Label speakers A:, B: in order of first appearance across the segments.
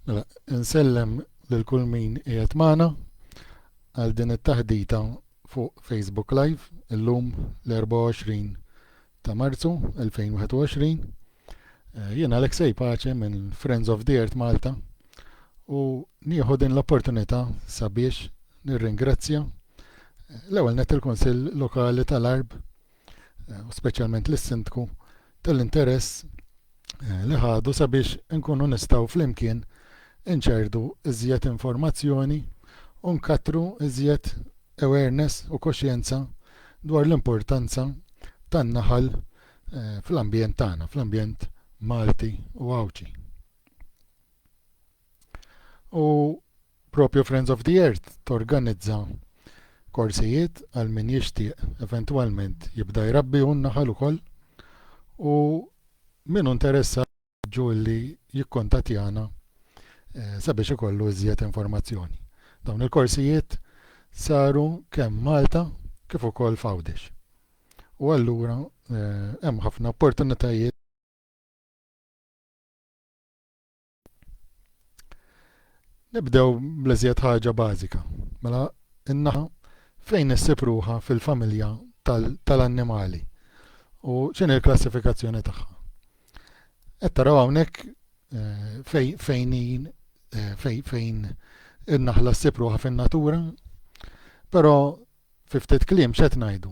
A: Mela, insellem lil kull min qiegħed magħna għal din it-taħdita fuq Facebook Live illum l-24 ta' Marzu 2021. Eh, Jien Alexej Pace minn Friends of the Earth Malta u nieħu din l-opportunità sabiex nirringrazzja eh, l-ewwel net il-Kunsill Lokali tal-Arb u speċjalment lis-Sindku tal-interess li ħadu sabiex inkunu nistgħu flimkien inċerdu iżjed informazzjoni u nkattru iżjed awareness u koxjenza dwar l-importanza tan-naħal fl-ambjent tagħna, fl-ambjent Malti u Għawdxi. U propju Friends of the Earth torganizza korsijiet għal min jixtieq eventwalment jibda jrabbi hu n-naħal ukoll u min hu interessat nħeġġu li jikkuntattjana eh, sabiex ikollu iżjed informazzjoni. Dawn il-korsijiet saru kemm Malta kif ukoll f'Għawdex. U allura eh, hemm ħafna opportunitajiet Nibdew bl-iżjed ħaġa bażika. Mela, in-naħa fejn issib ruħha fil-familja tal-annimali u x'inhi l-klassifikazzjoni tagħha. Qed taraw hawnhekk eh, fejn eh, fejn in-naħla ssib ruħha fin-natura, però fi ftit kliem x'qed ngħidu?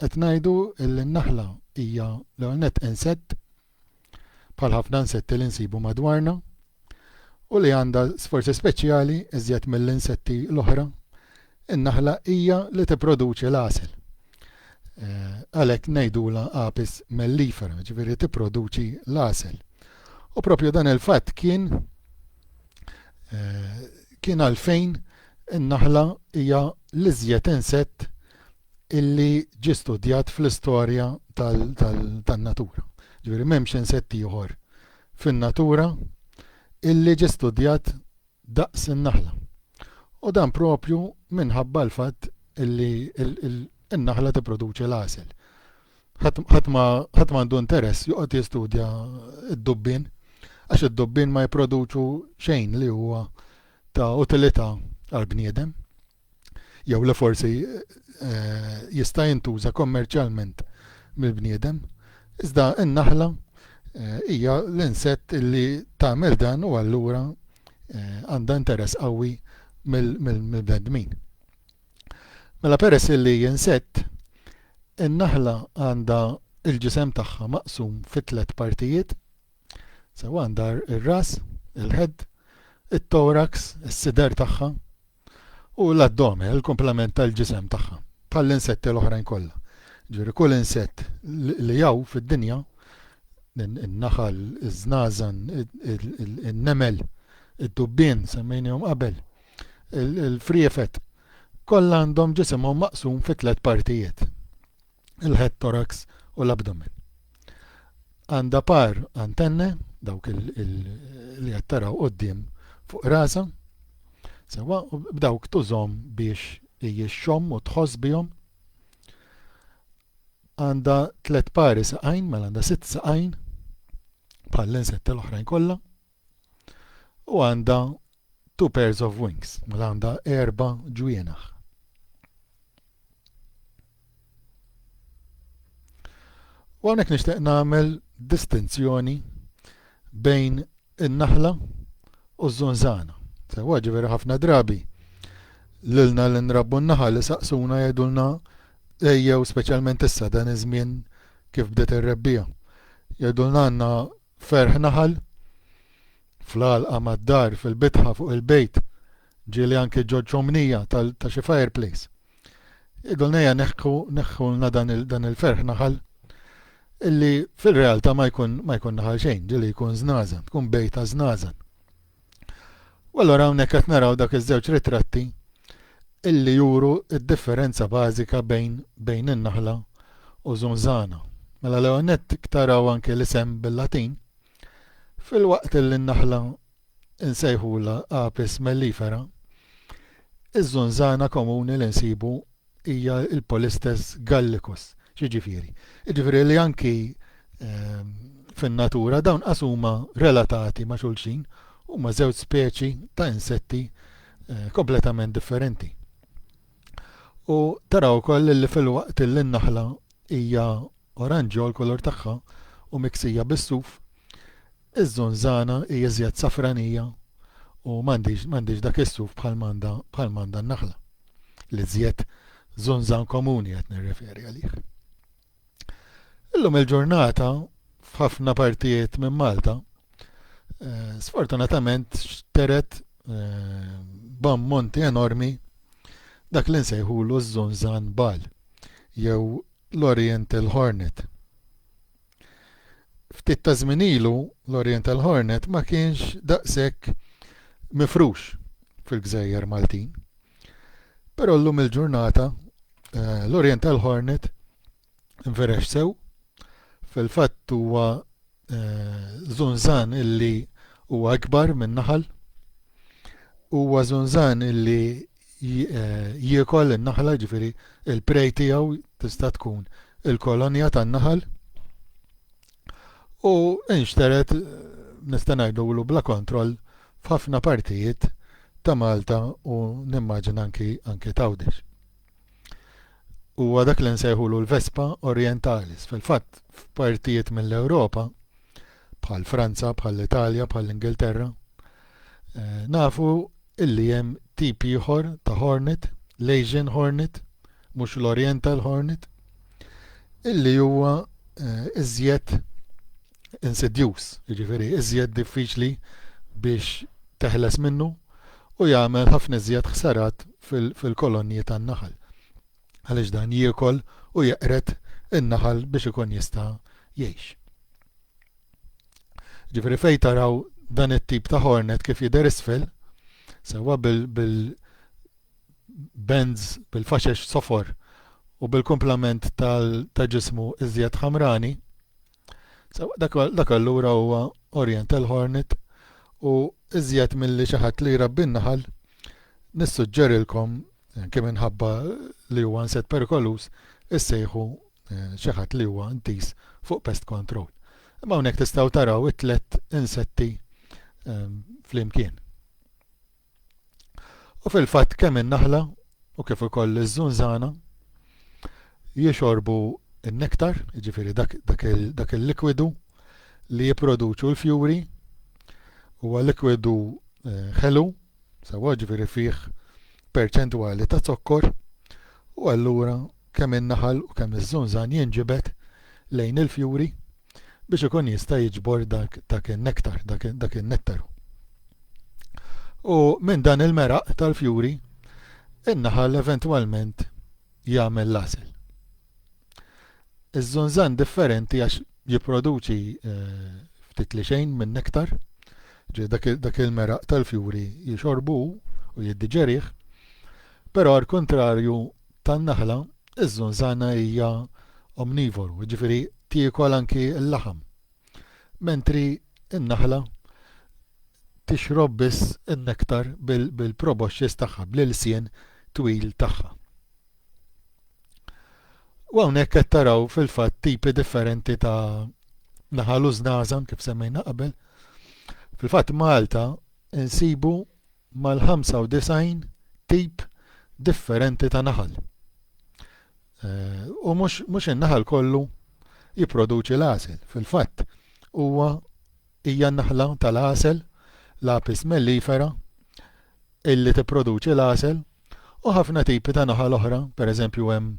A: Qed ngħidu li n-naħla hija l-ewwel nett insett bħal ħafna insetti li nsibu madwarna u li għandha sforzi speċjali iżjed mill-insetti l-oħra, in-naħla hija li tipproduċi l-għasel. Għalhekk ngħidulha Apis mellifera, jiġifieri tipproduċi l-għasel. U propju dan il-fatt kien kien għalfejn in-naħla hija l-iżjed insett illi ġie studjat fl-istorja tan-natura. Ġifieri m'hemmx insett ieħor fin-natura illi ġie studjat daqs in-naħla. U dan proprju minħabba l-fatt illi n-naħla tipproduċi l-għasel. Ħadd ma għandu interess joqgħod jistudja d-dubbien għax id-dubbien ma jipproduċu xejn li huwa ta' utilità għall-bniedem. jew le forsi jista' jintuża kommerċjalment mill-bniedem, iżda n-naħla hija l-insett li tagħmel dan u allura għandha interess qawwi mill-bnedmin. Mela peress li hi insett, in-naħla għandha l-ġisem tagħha maqsum fi tliet partijiet, sewa għandha r-ras, il-ħedd, it-toraks, is-sider tagħha, u l-addome, il-kumplament tal-ġisem tagħha, bħall-insetti l-oħrajn kollha. Ġifieri kull insett li hawn fid-dinja, in-naħal, iż-żnażan, in-nemel, id-dubbien semmejnihom qabel, il-friefet, kollha għandhom ġisimhom maqsum fi tliet partijiet. il-head thorax u l-abdomen. Għandha par antenne, dawk li qed taraw quddiem fuq rasa, sewa u b'dawk tużhom biex hija xomm u tħoss bihom. Għandha tliet pari saqajn, mela għandha sitt saqajn bħall-insett l-oħrajn kollha. U għandha two pairs of wings, mela għandha erba' ġwienaħ. U hawnhekk nixtieq nagħmel distinzjoni bejn in-naħla u z-zunzana. Sewa ġifieri ħafna drabi lilna li nrabbu n-naħal li saqsuna jgħidulna ejjew speċjalment issa dan iż-żmien kif bdiet ir-rebbija. Jgħidulna għandna Ferħ Naħal, Fl-għalqa mad-dar, fil-bitħa, fuq il-bejt, ġieli anki ġo ċomnija ta' xi fireplace. Jgħidulna ejja neħħu, neħħulna dan il-ferħ naħal, illi fil-realta' ma jkun naħal xejn, ġieli jkun żnażen, tkun bejta żnażen. U allura hawnhekk qed naraw dak iż-żewġ ritratti illi juru d-differenza bażika bejn bejn in-naħla u zunzana. Mela l-ewwel nett taraw anke l-isem bil-Latin filwaqt illi n-naħla insejħula Apis mellifera, iż-zunzana komuni li nsibu hija l-Polystes gallicus. X'jiġifieri? Jiġifieri li anki ehm, fin-natura dawn qas huma relatati ma' xulxin huma żewġ speċi ta' insetti eh, kompletament differenti. U taraw ukoll li fil-waqt li n-naħla Hija oranġjo l-kulur tagħha u miksija bis-suf. Iż-żunżana hi iżjed safranija u m'għandhiex dak is-suf bħal m'għandha n-naħla. L-iżjed żunżan komuni qed nirreferi għalih. Illum il-ġurnata f'ħafna partijiet minn Malta eh, sfortunatament xteret eh, b'ammonti enormi dak li nsejħulu ż-żunżan bal. jew l-Oriental Hornet. Ftit ta' żmien ilu, l-Oriental Hornet ma kienx daqshekk mifrux fil-gżejjer Maltin. Però llum il-ġurnata eh, l-Oriental Hornet inferex sew, fil-fatt huwa żunżan illi huwa ikbar minn naħal. Huwa żunżan illi eh, jiekol in-naħla, ġifieri il-prej tiegħu tista' tkun il-kolonja tan-naħal. U inxteret eh, nista' ngħidulu bla kontroll f'ħafna partijiet ta' Malta u nimmaġina anki anki tawdex. huwa dak li nsejħulu l-vespa orientalis fil-fatt f'partijiet mill-ewropa bħall-franza bħall-italja bħall-ingilterra nafu li hemm tip ieħor ta' hornet l-asian hornet mhux l-oriental hornet li huwa iżjed insidjuż, jiġifieri iżjed diffiċli biex teħles minnu u jagħmel ħafna iżjed ħsarat fil-kolonji tan-naħal għaliex dan jiekol u jeqred in-naħal biex ikun jista' jgħix. Ġifieri fejn taraw dan it-tip ta' hornet kif jidher isfel, sewwa bil-benz bil-faxex sofor u bil-kumplament ta' ġismu iżjed ħamrani, Dak allura huwa Oriental Hornet u iżjed milli xi ħadd li jrabbi n-naħal, nissuġġerilkom, anke minħabba li huwa insett perikoluż, issejħu xi ħadd li huwa intiż fuq pest control. Imma hawnhekk tistgħu taraw it-tliet insetti flimkien. U fil-fatt kemm in-naħla u kif ukoll iż-żunżana jixorbu n-nektar, jiġifieri dak, dak, dak il-likwidu li jipproduċu l-fjuri huwa likwidu eh, ħelu, sewwa ġifieri fih perċentwali ta' zokkor u allura kemm in-naħal u kemm iż-żunżan jinġibed lejn il-fjuri biex ikun jista' jiġbor dak in-nektar, dak in-nettaru. U minn dan il-meraq tal-fjuri, in-naħal eventwalment jagħmel l-għasel. Iż-żunżan differenti għax jipproduċi eh, ftit li xejn minn nektar, ġej dak il-meraq tal-fjuri jixorbu u jiddiġerih, però għal kontrarju tan-naħla, iż-żunżana hija omnivoru, jiġifieri tiekol anki l-laħam, mentri n-naħla tixrob biss in-nektar bil-proboxxis tagħha, bl-ilsien twil tagħha. U hawnhekk qed taraw fil-fatt tipi differenti ta' naħal u żnażan kif semmejna qabel. Fil-fatt Malta insibu mal-95 tip differenti ta' naħal. U mhux in-naħal kollu jipproduċi l-għasel. Fil-fatt, huwa hija n-naħla tal-għasel, l-Apis mellifera, illi tipproduċi l-għasel u ħafna tipi ta' naħal oħra, pereżempju hemm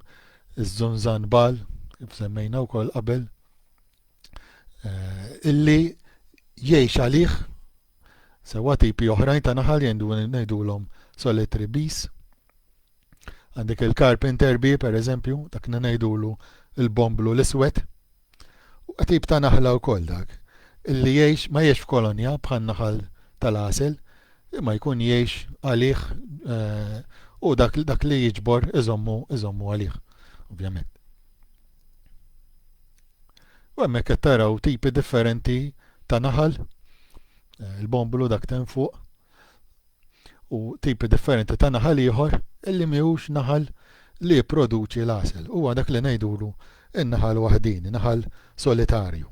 A: iż-żunżan bal, kif semmejna wkoll qabel, illi jgħix għalih sewwa tipi oħrajn ta' naħal ngħidulhom solitary bees. Għandek il-carpenter bee pereżempju, dak li ngħidulu l-bomblu l-iswed. U tip ta' naħla wkoll dak, illi jgħix ma jgħix f'kolonja bħan-naħal tal-għasel, imma jkun jgħix għalih eh, u dak, dak li jiġbor iżommu iżommu għalih, ovvjament. U hemmhekk qed taraw tipi differenti ta' naħal, eh, il-bombulu dak ten fuq, u tipi differenti ta' naħal ieħor illi miħux naħal li jipproduċi l-għasel. Huwa dak li ngħidulu in-naħal waħdini, naħal solitarju.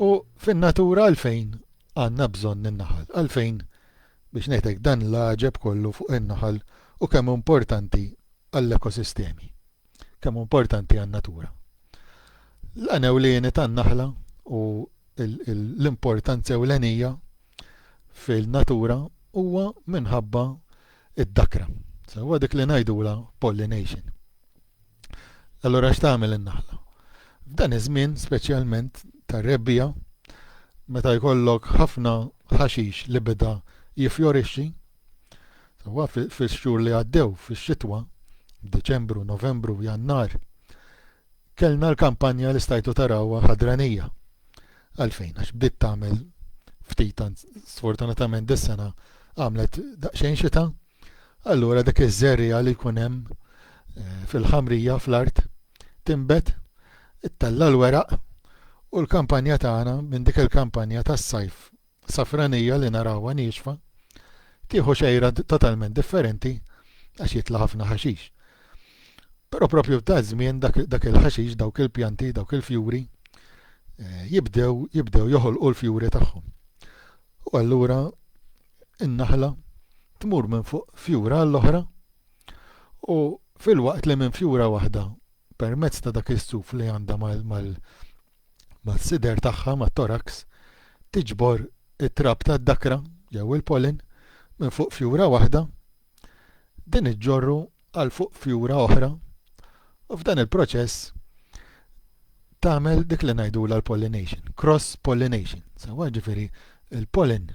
A: U fin-natura għalfejn għandna bżonn in-naħal? Għalfejn, biex ngħid hekk, dan l-għaġeb kollu fuq in-naħal u kemm hu importanti għall-ekosistemi? Kemm hu importanti għan-natura? L-għan ewlieni tan-naħla u l-importanza ewlenija fil-natura huwa minħabba d-dakra. Sewwa dik li ngħidulha pollination. Allura x'tagħmel in-naħla? F'dan iż-żmien, speċjalment tar-rebbiegħa, meta jkollok ħafna ħaxix li beda jiffjorixxi, sewwa fix-xhur li għaddew fix-xitwa, Diċembru, Novembru, Jannar, kellna l-kampanja li stajtu tarawha ħadranija. Għalfejn, għax bdiet tagħmel ftit sfortunatament dis-sena għamlet daqsxejn xita, Allura dik iż-żerriegħa li jkun hemm fil-ħamrija fl-art tinbet, ittella' l-weraq u l-kampanja tagħna minn dik il-kampanja tas-sajf safranija li narawha niexfa tieħu xejra totalment differenti għax jitla' ħafna ħaxix. Però proprju f'daż-żmien dak il-ħaxix, dawk il-pjanti, dawk il-fjuri eh, jibdew jibdew joħolqu l-fjuri tagħhom. U allura in-naħla tmur minn fuq fjura għall-oħra u filwaqt li minn fjura waħda permezz ta' dak is-suf li għandha mas-sider tagħha, mat-toraks, tiġbor it-trab tad-dakra jew il-pollen minn fuq fjura waħda, din iġġorru għal fuq fjura oħra u f'dan il-proċess tagħmel dik li ngħidulha l-pollination, cross pollination, sewa ġifieri il-pollen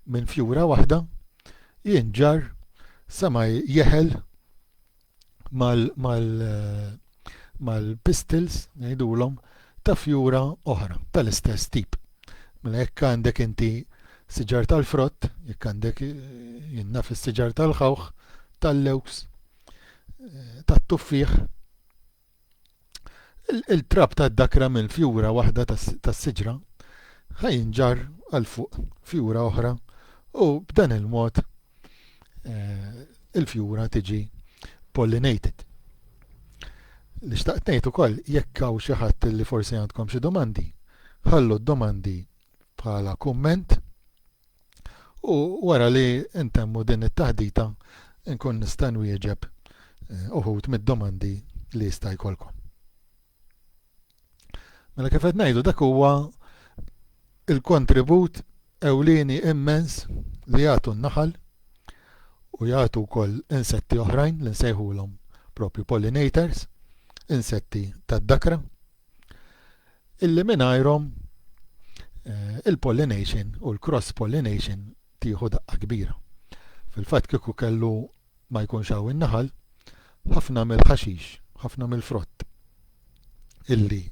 A: minn fjura waħda jinġar sa ma jeħel mal, mal mal-pistils, ngħidulhom, ta' fjura oħra tal-istess tip. Mela jekk għandek inti siġar tal-frott, jekk għandek jien naf is-siġar tal-ħawħ, tal-lewks, eh, tat-tuffieħ, il-trab ta' dakra minn fjura waħda tas-siġra ħajinġar għal fuq fjura oħra u b'dan il-mod eh, il-fjura tiġi pollinated. Li xtaqt ngħid ukoll jekk hawn xi ħadd li forsi għandkom xi domandi, ħallu d-domandi bħala kumment u wara li intemmu din it-taħdita nkun nista' nwieġeb eh, uħud mid-domandi li jista' jkollkom. Mela kif qed ngħidu dak huwa il-kontribut ewlieni immens li jagħtu n-naħal u jagħtu wkoll insetti oħrajn li nsejħulhom propju pollinators, insetti tad-dakra, illi mingħajrhom eh, il-pollination u l-cross pollination tieħu daqqa kbira. Fil-fatt kieku kellu ma jkunx hawn in-naħal, ħafna mill-ħaxix, ħafna mill-frott illi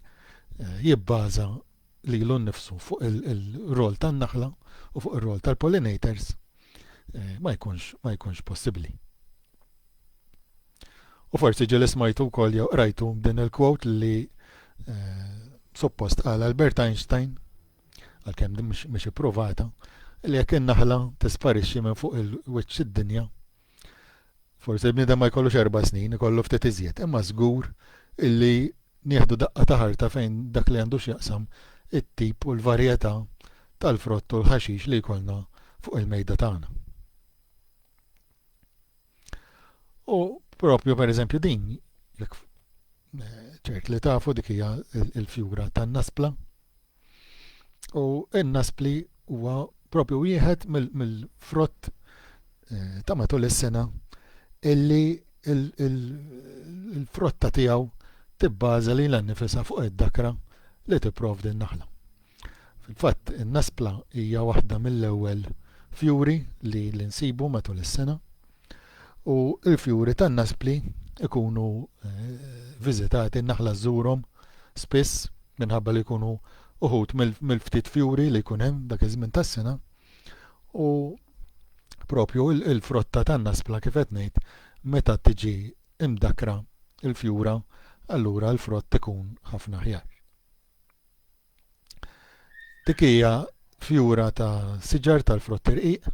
A: jibbaża lilu nnifsu fuq ir-rwol tan-naħla u fuq ir-rwol tal-pollinators ma jkunx ma jkunx possibbli. U forsi ġieli smajtu wkoll jew qrajtu din il-quote li suppost qal Albert Einstein għalkemm din mhix ippruvata, li jekk in-naħla tisparixxi minn fuq il-wiċċ id-dinja, forsi l-bniedem ma jkollux erba' snin, ikollu ftit iżjed, imma żgur illi nieħdu daqqa ta' ħarta fejn dak li għandu x'jaqsam it-tip u l-varjetà tal-frott u l-ħaxix li jkollna fuq il-mejda tagħna. U propju pereżempju din, jekk eh, ċert li tafu dik hija l-fjura tan-naspla, U n-naspli huwa propju wieħed mill-frott eh, ta' matul is-sena illi il-frotta tiegħu tibbaża li l-annifisa fuq id-dakra li tipprovdi n-naħla. Fil-fatt, in-naspla hija waħda mill-ewwel fjuri li l-insibu matul is-sena U l-fjuri tan-naspli jkunu viżitati, n-naħla żżurhom spiss minħabba li jkunu uħud mill-ftit fjuri li jkun hemm dak iż-żmien tas-sena. U propju il-frotta tan-naspla kif qed ngħid meta tiġi mdakkra l-fjura allura l-frott ikun ħafna aħjar. Dik hija fjura ta' siġar tal-frott irqiq,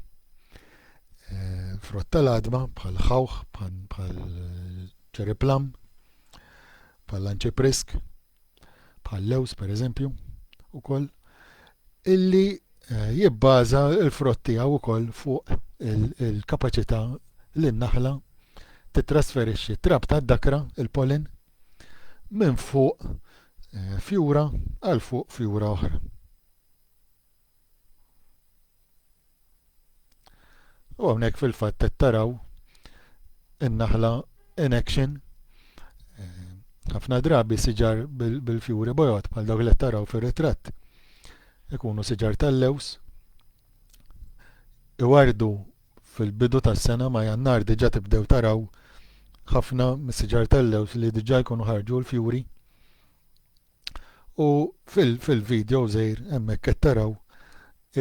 A: eh, frott tal-adma bħal ħawħ, bħal cherry plum, bħal anċiprisk, bħal lews per eżempju, ukoll, illi eh, jibbaża l-frott tiegħu wkoll fuq il-kapaċità li n-naħla titrasferixxi trab tad-dakra, il-pollen, minn fuq fjura għal fuq fjura oħra. U hawnhekk fil-fatt qed taraw in-naħla in action eh, ħafna drabi siġar bil-fjuri bojot bħal dawk li taraw fir-ritratt. Ikunu siġar tal-lews iwardu fil-bidu tas-sena ma' Jannar diġà tibdew taraw ħafna mis-siġar tal-lewż li diġà jkunu ħarġu l-fjuri u fil-video żgħir hemmhekk qed taraw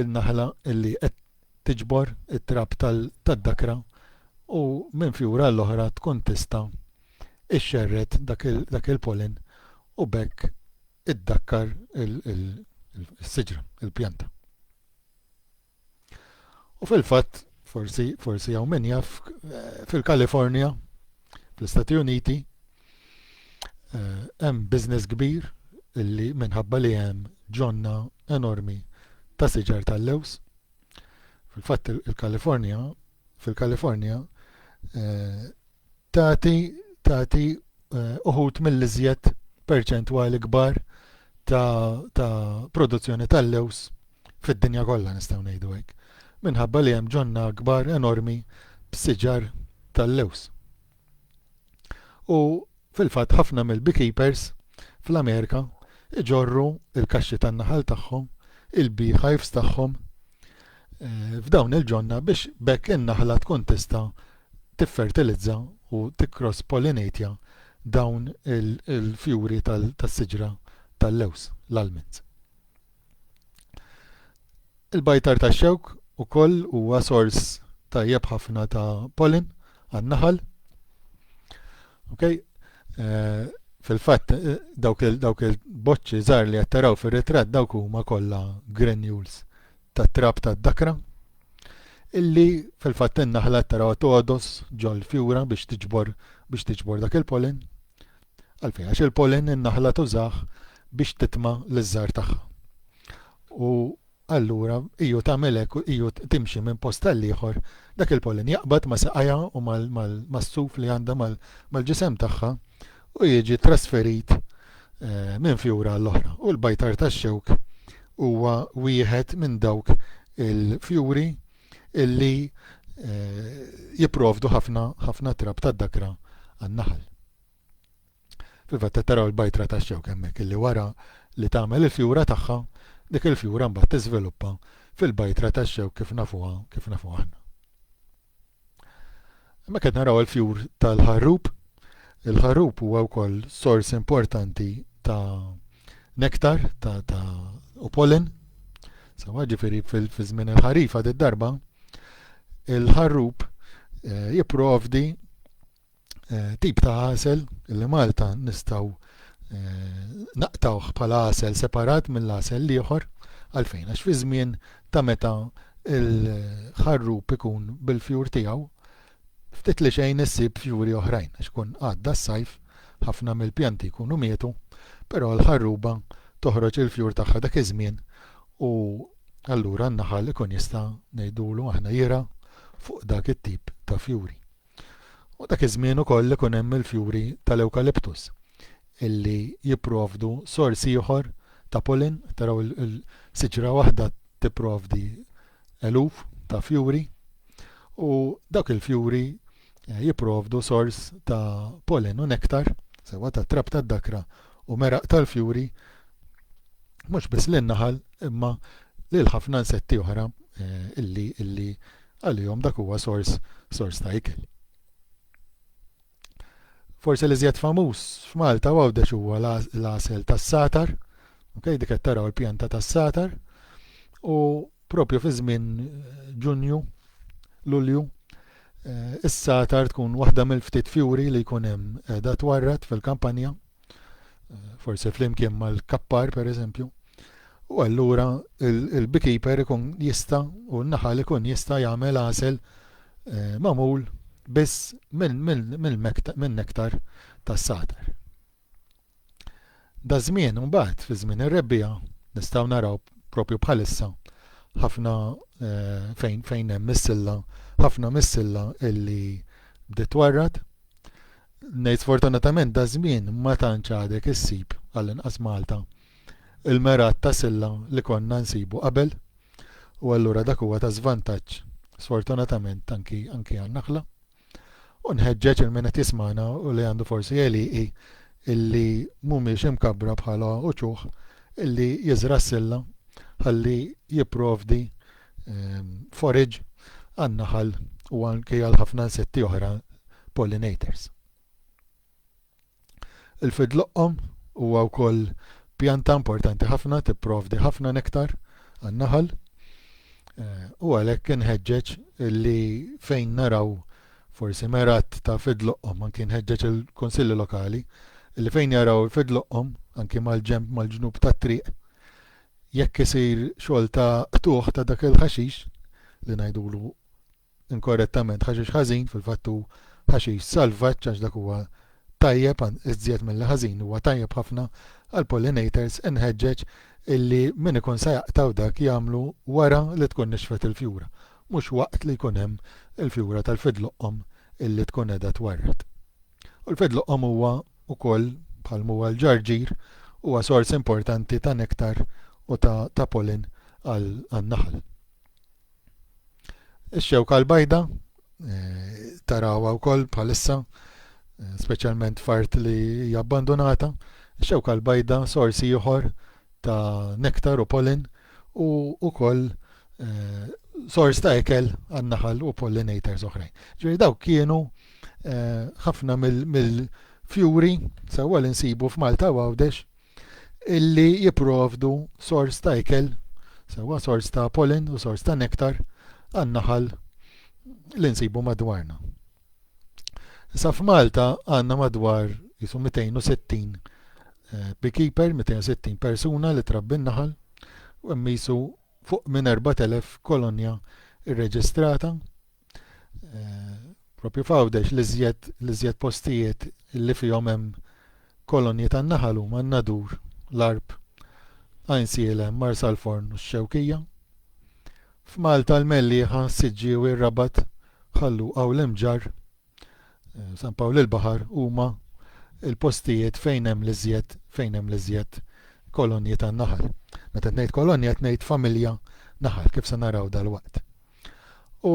A: il-naħla li qed tiġbor it-trab tad-dakra u minn fjura għall-oħra tkun tista' ixxerred dak il-pollen u b'hekk iddakkar is-siġra, il-pjanta. U fil-fatt, forsi, forsi hawn min jaf, eh, fil-Kalifornja, fl-Istati Uniti, eh, hemm business kbir illi minħabba li hemm ġonna enormi ta' siġar tal-lews. Fil-fatt il-Kalifornja, fil-Kalifornja, eh, tagħti tagħti uħud mill-iżjed perċentwali kbar ta', ta produzzjoni tal-lewż fid-dinja kollha nistgħu ngħidu hekk, minħabba li hemm ġonna kbar enormi b'siġar tal-lewż. U fil-fatt ħafna mill-beekeepers fl-Amerika iġorru il-kaxxi tan-naħal tagħhom, il-beehives tagħhom eh, f'dawn il-ġonna biex bekk in-naħla tkun tista' tiffertilizza u tikkross pollinatja dawn il-fjuri tas-siġra tal-lewż, l-almonds. Il-bajtar tax-xewk ukoll huwa sors tajjeb ħafna ta' pollen għan-naħal. Okay? Eh, fil-fatt eh, dawk il-boċċi żgħar li qed taraw fir-ritratt dawk huma kollha granules tat-trab tad-dakra illi fil-fatt in-naħla qed tarawha togħdos ġol-fjura biex tiġbor biex tiġbor dak il-pollen. Għalfejn għax il-pollen in-naħla tużah biex titma' liż-żgħar tagħha. U allura iju tagħmel hekk iju timxi minn post tal-ieħor dak il-pollen jaqbad ma' saqajha u mas-suf li għandha mal-ġisem tagħha u jiġi ttrasferit minn fjura għall-oħra u l-bajtar tax-xewk huwa wieħed minn dawk il-fjuri li jipprovdu ħafna ħafna trab tad-dakra għan-naħal. Fil-fatt qed taraw il-bajtra tax-xewk hemmhekk illi wara li tagħmel il-fjura tagħha, dik il-fjura mbagħad tiżviluppa fil-bajtra tax-xewk kif nafuha kif nafuha aħna. Hemmhekk qed naraw il-fjur tal-ħarrub. Il-ħarrub huwa wkoll sors importanti ta' nektar ta', ta u pollen. Sawa ġifieri fil-żmien il-ħarifa darba il-ħarrub eh, jipprovdi eh, tip ta' għasel li Malta nistgħu eh, naqtawh bħala għasel separat mill-għasel l-ieħor għalfejn għax fi żmien ta' meta il-ħarrub ikun bil-fjur tiegħu ftit li xejn issib fjuri oħrajn għax kun għadda s-sajf ħafna mill-pjanti jkunu mietu, però l-ħarruba toħroġ il-fjur tagħha dak iż-żmien u allura n-naħal ikun jista' ngħidulu aħna jira fuq dak it-tip ta' fjuri. U dak iż-żmien ukoll ikun hemm il-fjuri tal-ewkaliptus illi jipprovdu sors ieħor ta' pollen, taraw il-siġra waħda tipprovdi eluf ta' fjuri u dawk il-fjuri eh, jipprovdu sors ta' pollen u nektar, sewa ta' trab tad-dakra u meraq tal-fjuri mhux biss lin-naħal imma lil ħafna insetti oħra eh, illi illi Għalihom dak huwa sors sors ta' ikel. Forsi l-iżjed famuż f'Malta u Għawdex huwa l-għasel tas-sagħtar, ok, dik qed taraw il-pjanta tas-sagħtar u propju fi żmien Ġunju, Lulju, eh, is-sagħtar tkun waħda mill-ftit fjuri li jkun hemm qiegħda twarrad fil-kampanja. forse flimkien mal-kappar per eżempju, u allura il-beekeeper ikun jista u n-naħal ikun jista jagħmel għasel eh, mamul biss minn nektar tas-satar. Da żmien mbagħad fi żmien ir-rebbija nistgħu naraw propju bħalissa ħafna eh, fejn fejn hemm missilla, ħafna missilla illi bdiet warrat Ngħid sfortunatament da żmien ma tantx għadek issib għall-inqas Malta il-mergħat ta' silla li konna nsibu qabel u allura dak huwa ta' żvantaġġ sfortunatament anki anki għan-Naħla. U nħeġġeġ il min qed jismana u li għandu forsi għeliqi illi mhumiex imkabbra bħala uċuħ illi jiżra s-silla ħalli jipprovdi forage għan-naħal u anke għal ħafna insetti oħra pollinators. Il-fidloqqom huwa wkoll pjanta importanti ħafna tipprovdi ħafna nektar għan-naħal eh, u għalhekk inħeġġeġ li fejn naraw forsi merat ta' fidloqqom anki nħeġġeġ il-Kunsilli Lokali li fejn jaraw fidloqqom anki mal-ġemp mal-ġnub tat-triq jekk isir xogħol ta' qtugħ ta' dak il-ħaxix, li ngħidulu inkorrettament ħaxix ħażin, fil-fatt hu ħaxix salvaġġ għax dak huwa tajjeb, iżjed milli ħażin, huwa tajjeb ħafna għall-pollinators, inħeġġeġ illi min ikun se jaqtgħu dak jagħmlu wara li tkun nixfet il-fjura, mhux waqt li jkun hemm il-fjura tal-fidloqqom illi tkun qiegħda twarrad. U l-fed loqqom huwa wkoll, bħal m'huwa l-ġarġir, huwa sors importanti ta' nektar u ta' ta' pollen għan-naħal. Ix-xewka l-bajda tarawha wkoll bħalissa, speċjalment f'art li hija abbandunata, ix-xewka l-bajda sors ieħor ta' nektar u pollen u wkoll sors ta' ikel għan-naħal u pollinators oħrajn. Ġifieri dawk kienu ħafna mill-fjuri sewwa li nsibu f'Malta u Għawdex illi jipprovdu sors ta' ikel sewwa sors ta' pollen u sors ta' nektar għan-naħal li nsibu madwarna. Issa f'Malta għandna madwar jisu 260 eh, beekeeper, 260 persuna li trabbi n-naħal, u hemm jisu fuq minn 4000 kolonja rreġistrata. Eh, propju f'Għawdex li żjed li żjed postijiet li fihom hemm kolonji tan-naħal huma n-Nadur, l-Arb, Għajnsielem, Marsalforn u x-Xewkija. F'Malta l-Mellieħa, s-Siġġiewi, r-Rabat, Ħal Luqa u l-Imġarr, San Pawl il-Baħar huma l-postijiet fejn hemm l-iżjed fejn hemm l-iżjed kolonji tan-naħal. Meta qed ngħid kolonja qed ngħid familja naħal kif se naraw dalwaqt. U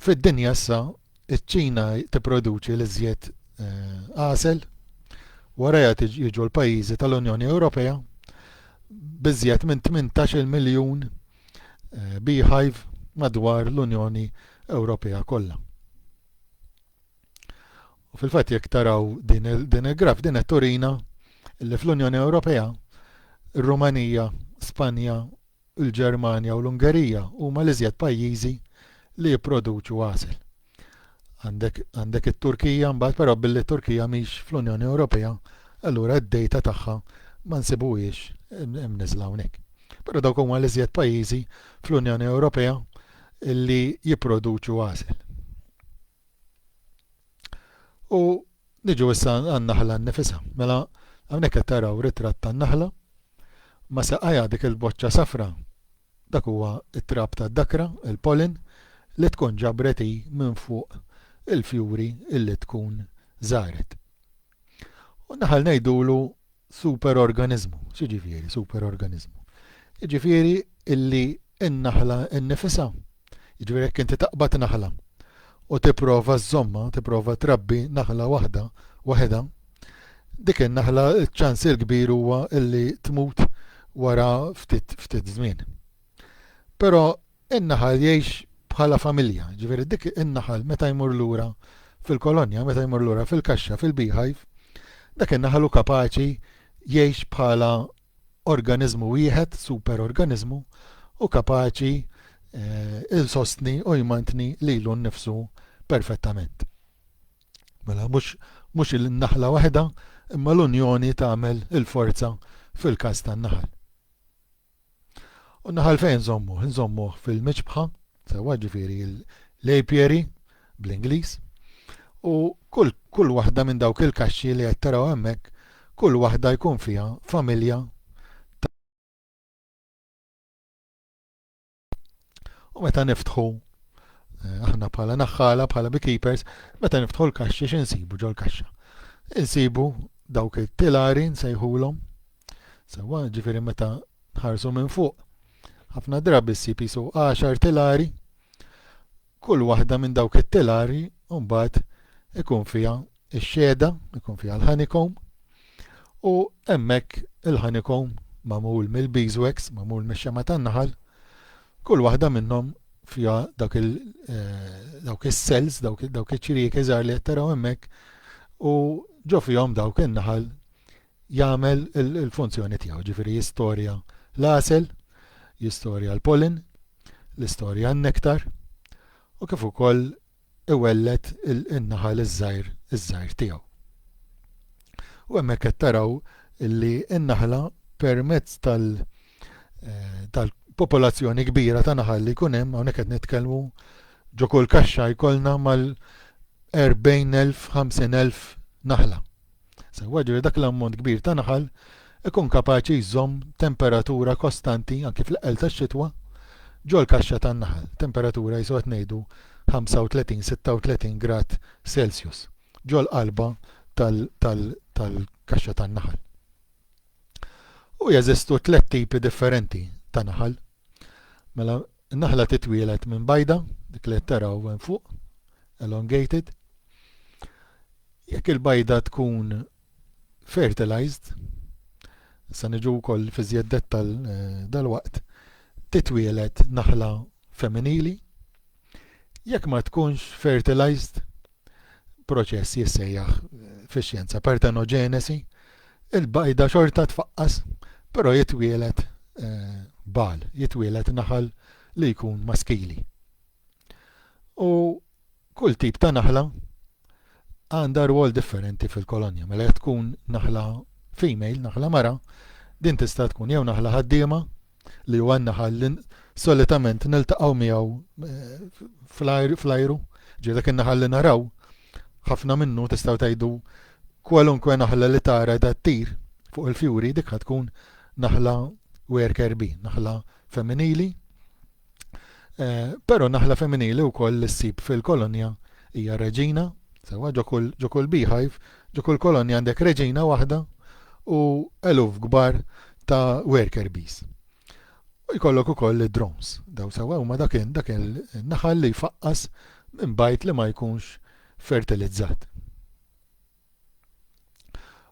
A: Fid-dinja issa, iċ-Ċina tipproduċi l-iżjed għasel, warajha jiġu l-pajjiżi tal-Unjoni Ewropea b'iżjed minn 18-il miljun beehive madwar l-Unjoni Ewropea kollha. U fil-fatt jekk taraw din il-graf din qed turina li fl-Unjoni Ewropea, ir-Rumanija, Spanja Il-Ġermanja u l-Ungerija huma l-iżjed pajjiżi li jipproduċu għasel. Għandek għandek it-Turkija mbagħad, però billi t-Turkija mhix fl-Unjoni Ewropea, allura d-dejta tagħha ma nsibuhiex imniżżla hawnhekk. Però dawk huma l-iżjed pajjiżi fl-Unjoni Ewropea li jipproduċu għasel. U niġu issa għan-naħla nnifisha. Mela, hawnhekk qed taraw ritratt tan-naħla ma' saqajha dik il-boċċa safra. Dak huwa t-trab tad-dakra, il-pollen, li tkun ġabret hi minn fuq il-fjuri li tkun żaret. U naħal ngħidulu superorganiżmu. X'jiġifieri superorganiżmu? Jiġifieri illi n-naħla nnifisha. Jiġifieri jekk inti taqbad naħla u tipprova żomma, tipprova trabbi naħla waħda waħedha, dik in-naħla ċ-ċans il-kbir huwa illi tmut wara ftit ftit żmien. Però in-naħal jgħix bħala familja, jiġifieri dik in-naħal meta jmur lura fil-kolonja, meta jmur lura fil-kaxxa, fil-beehive, dak in-naħal hu kapaċi jgħix bħala organiżmu wieħed, superorganiżmu, u kapaċi eh, il-sostni u jmantni lilu nnifsu perfettament. Mela, mhux il-naħla waħda, imma l-unjoni tagħmel il-forza fil-każ tan-naħal. U n-naħal fejn nżommuh? Nżommuh fil-miċbħa, sewwa ġifieri l-apiary bl-Ingliż. U kull, kull waħda minn dawk il-kaxxi li qed taraw hemmhekk, kull waħda jkun fiha familja U meta niftħu eh, aħna bħala naħħala, bħala beekeepers, meta niftħu l-kaxxi x'insibu ġol-kaxxa. Insibu dawk it-tilari nsejħulhom. Sewa, ġifieri meta nħarsu minn fuq. Ħafna drabi ssib isu 10 tilari. Kull waħda minn dawk it-tilari mbagħad ikun fiha ix-xehda jkun fiha l-honeycomb u hemmhekk il-honeycomb magħmul mill-beeswax, magħmul mix-xema' tan-naħal, kull waħda minnhom fiha dak il eh, dawk is-cells, dawk iċ-ċriek iżgħar li qed taraw hemmhekk u ġo fihom dawk in-naħal jagħmel il-funzjoni tiegħu, ġifieri jistorja l-għasel, jistorja l-pollen, l-istorja n-nektar u kif ukoll iwelled in-naħal iż-żgħir iż-żgħir tiegħu. U hemmhekk qed taraw li n-naħla permezz tal tal-popolazzjoni kbira ta' naħal li jkun hemm hawnhekk qed nitkellmu ġo kull kaxxa jkollna mal 40,000, 50,000 naħla. Salvaġġu li dak l-ammont kbir ta' naħal ikun kapaċi jżomm temperatura kostanti anki fl-eqqel tax-xitwa ġol-kaxxa tan-naħal, temperatura qisu qed ngħidu 35-36 grad Celsius, ġol-qalba tal-kaxxa tan-naħal. U jeżistu tliet tipi differenti ta' naħal. Mela, In-naħla titwieled minn bajda, dik li qed taraw hemm fuq, elongated. Jekk il-bajda tkun fertilized, se niġu wkoll fi żjed dettal eh, dalwaqt, titwieled naħla femminili. Jekk ma tkunx fertilized, proċess jissejjaħ fix-xjenza partenoġenesi, il-bajda xorta tfaqqas, però jitwielet eh, bal, jitwielet naħal li jkun maskili. U kull tip ta' naħla għandha rwol differenti fil-kolonja. Mela tkun naħla female, naħla mara, din tista' tkun jew naħla ħaddiema, li huwa n-naħal li solitament niltaqgħu miegħu eh, fl-ajru, ġieli dak in-naħal li naraw, ħafna minnu tistgħu tgħidu kwalunkwe naħla li tara da ttir fuq il-fjuri dik tkun naħla worker bee, naħla femminili, Però naħla femminili wkoll li ssib fil-kolonja hija reġina, sewwa ġo kull ġo kull beehive, ġo kull kolonja għandek reġina waħda u eluf kbar ta' worker bees. U jkollok ukoll id-drones, daw sewwa huma dak dak il-naħal li jfaqqas minn bajt li ma jkunx fertilizzat.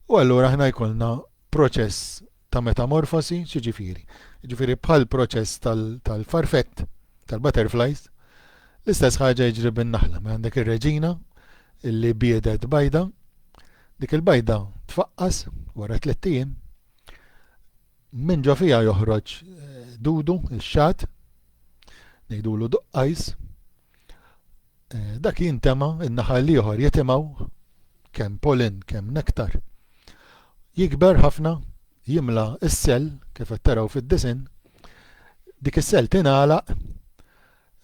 A: U allura aħna jkollna proċess ta' metamorfosi, xiġifieri. Ġifieri bħal proċess tal-farfett, tal tal-butterflies, l-istess ħaġa jiġri bin-naħla. Ma mela għandek ir-reġina illi biedet bajda, dik il-bajda tfaqqas wara tliet ijiem, minn ġo fija joħroġ eh, dudu, ix-xat, ngħidulu duqqajs, Eh, dak jintema, in-naħa l-ieħor jitimgħu kemm pollen, kemm nektar. Jikber ħafna, jimla s-sell, kif qed taraw fid-disin, dik is-sell tingħalaq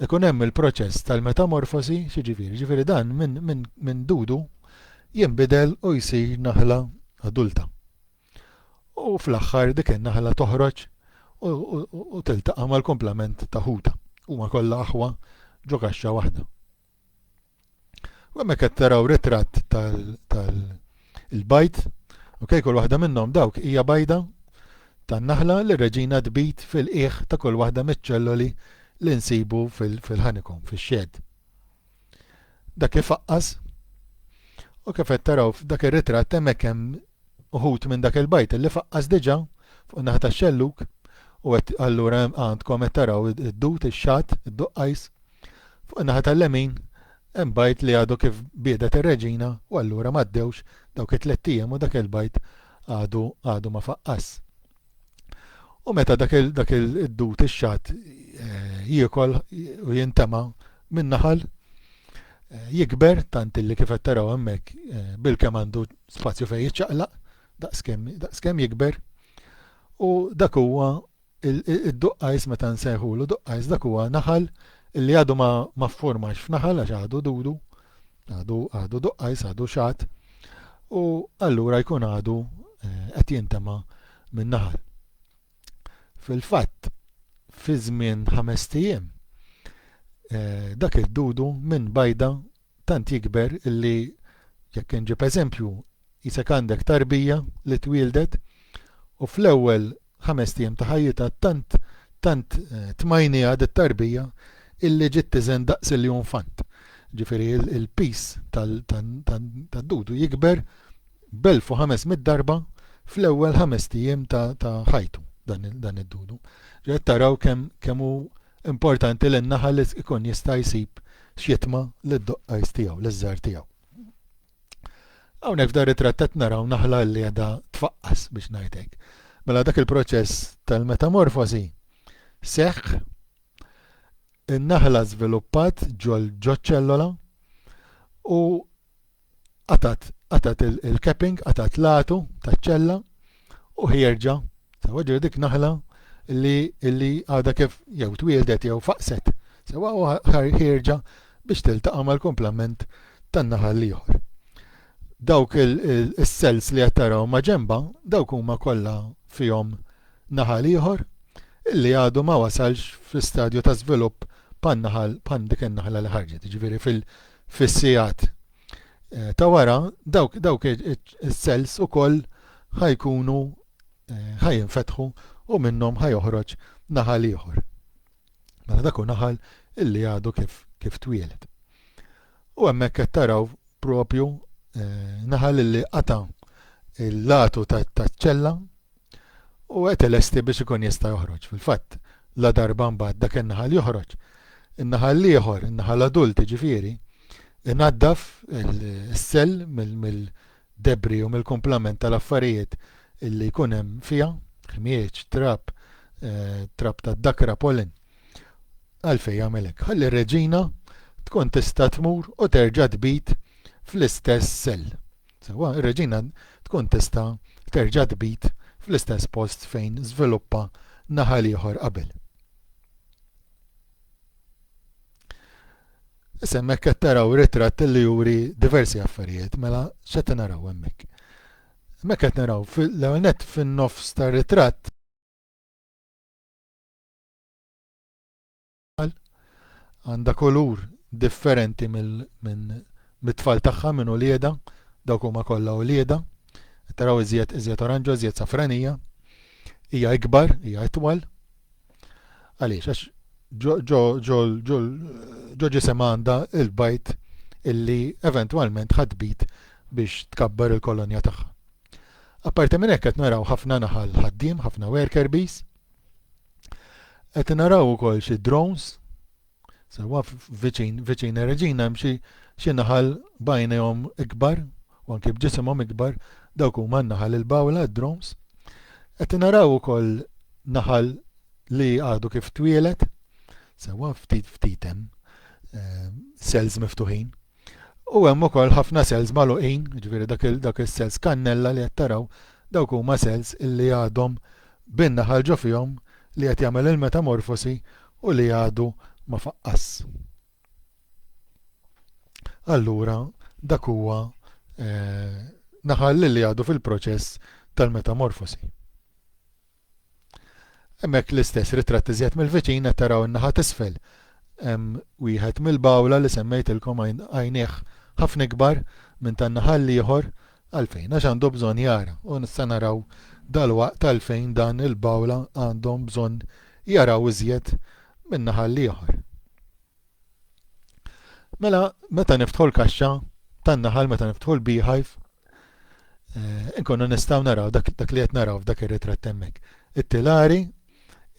A: ikun hemm il-proċess tal-metamorfosi, xiġifieri, ġifieri dan minn min, min dudu jinbidel u jsir naħla adulta. U fl-aħħar dik in-naħla toħroġ u tiltaqa' mal-kumplament ta' ħutha. Huma kollha aħwa ġo kaxxa waħda. U hemmhekk qed taraw ritratt tal-bajd, ok, kull waħda minnhom dawk hija bajda tan-naħla li reġina tbid fil-qiegħ ta' kull waħda miċ-ċelloli li nsibu fil-ħanikom, fix-xed. Dak ifaqqas u kif qed taraw f'dak ir-ritratt hemmhekk hemm uħud minn dak il-bajt li faqqas diġà fuq naħa tax-xellug u qed allura għandkom qed taraw id-dud ix-xatt, id-duqqajs. Fuq naħa tal-lemin hemm bajt li għadu kif biedet ir-reġina u allura m'għaddewx dawk it-tlett ijiem u dak il-bajt għadu għadu ma faqqas. U meta dak il dak il dut ix-xatt eh, jiekol u jintema minn naħal eh, jikber tant illi kif qed taraw hemmhekk eh, bilkemm għandu spazju fejn jiċċaqlaq daqskemm jikber u dak huwa id-duqqajs meta nsejħulu duqqajs dak huwa naħal illi għadu ma ffurmax f'naħal għax għadu dudu Għadu, għadu duqqajs, għadu xatt, u allura jkun għadu eh, qed jintema minn naħal. Fil-fatt, fi żmien ħames tijiem, eh, dak id-dudu minn bajda tant jikber illi jekk inġib eżempju jisek għandek tarbija li twildet u fl-ewwel ħamest ijiem ta' ħajjitha tant tant tmajniha dit-tarbija illi ġiet tiżen daqs iljunfant. Ġifieri il-piż tad-dudu jikber b'elf u ħames mitt darba fl-ewwel ħamest ijiem ta' ħajtu dan id-dudu. Qed taraw kemm kemm hu importanti li n-naħal ikun jista' jsib xitma lid-doqqajs tiegħu, liż-żgħar tiegħu. Hawnhekk f'dan ritratt qed naraw naħla li qiegħda tfaqqas biex ngħid hekk. Mela dak il-proċess tal-metamorfosi seħħ in-naħla żviluppat ġol ġoċ-ċellola u qatat qatat il-capping, qatat latu taċ-ċella U ħierġa, sewa ġiri dik naħla li li għadha kif jew twieldet jew faqset, sewa u ħierġa biex tiltaqa' mal-kumplament tan-naħal l-ieħor. Dawk is-cells li qed taraw ma' ġenbha, dawk huma kollha fihom naħal ieħor illi għadu ma wasalx fi stadju ta' żvilupp bħan-naħal bħal dik in-naħla li ħarġet, jiġifieri fis-sigħat eh, ta' wara dawk dawk is-cells ukoll ħajkunu eh, ħajinfetħu u minnhom ħajoħroġ naħal ieħor. Mela dak naħal illi għadu kif kif twieled. U hemmhekk qed taraw propju eh, naħal illi qata' il-latu taċ-ċella u qed ilesti biex ikun jista' joħroġ. Fil-fatt, la darba mbagħad dak in-naħal joħroġ. In-naħal l-ieħor, in-naħal adult jiġifieri, inaddaf is-sell mill-debri u mill-kumplament tal-affarijiet li jkun hemm fiha, ħmieġ, trab, eh, trab tad-dakra pollen. Għalfejn jagħmel hekk? Ħalli r-reġina tkun tista' tmur u terġa' tbid fl-istess sell. Sewwa, ir-reġina tkun tista' terġa' tbid fl-istess post fejn żviluppa naħal ieħor qabel. Issa hemmhekk qed taraw ritratt li juri diversi affarijiet, mela x'qed naraw hemmhekk. Hemmhekk qed naraw fil-ewwel nett fin-nofs tar-ritratt tfal, għandha kulur differenti mit-tfal tagħha, minn uliedha, dawk huma kollha uliedha. Qed taraw iżjed iżjed oranġo, iżjed safranija. Hija ikbar, hija itwal. Għaliex għax ġo ġisem għandha il-bajt illi eventwalment ħadbit biex tkabbar il-kolonja tagħha. Apparti minn hekk qed naraw ħafna naħal ħaddiem, ħafna worker bees, Qed naraw ukoll xi drones sewa viċin viċin Reġina hemm xi xi naħal bajnejhom ikbar u anke b'ġisimhom ikbar dawk huma n-naħal il-bawla drones. Qed naraw ukoll naħal li għadu kif twielet sewa ftit ftit hemm eh, cells miftuħin. U hemm ukoll ħafna cells magħluqin, jiġifieri dak il dak is-cells kannella li qed taraw, dawk huma cells illi għadhom bin-naħal ġo fihom li qed jagħmel il-metamorfosi u li għadu ma faqqas. Allura dak huwa eh, naħal li għadu fil-proċess tal-metamorfosi. Hemmhekk l-istess ritratt iżjed mill-viċin qed taraw in-naħa t'isfel hemm wieħed mill-bawla li semmejtilkom għajnejh ħafna ikbar minn tan-naħa l-ieħor għalfejn għax għandu bżonn jara u se naraw dalwaqt għalfejn dan il-bawla għandhom bżonn jaraw iżjed min-naħa l-ieħor. Mela, meta niftħu l-kaxxa tan-naħal, meta niftħu l-beehive, eh, inkunu nistgħu naraw dak, dak li qed naraw f'dak ir-ritratt hemmhekk. It-tilari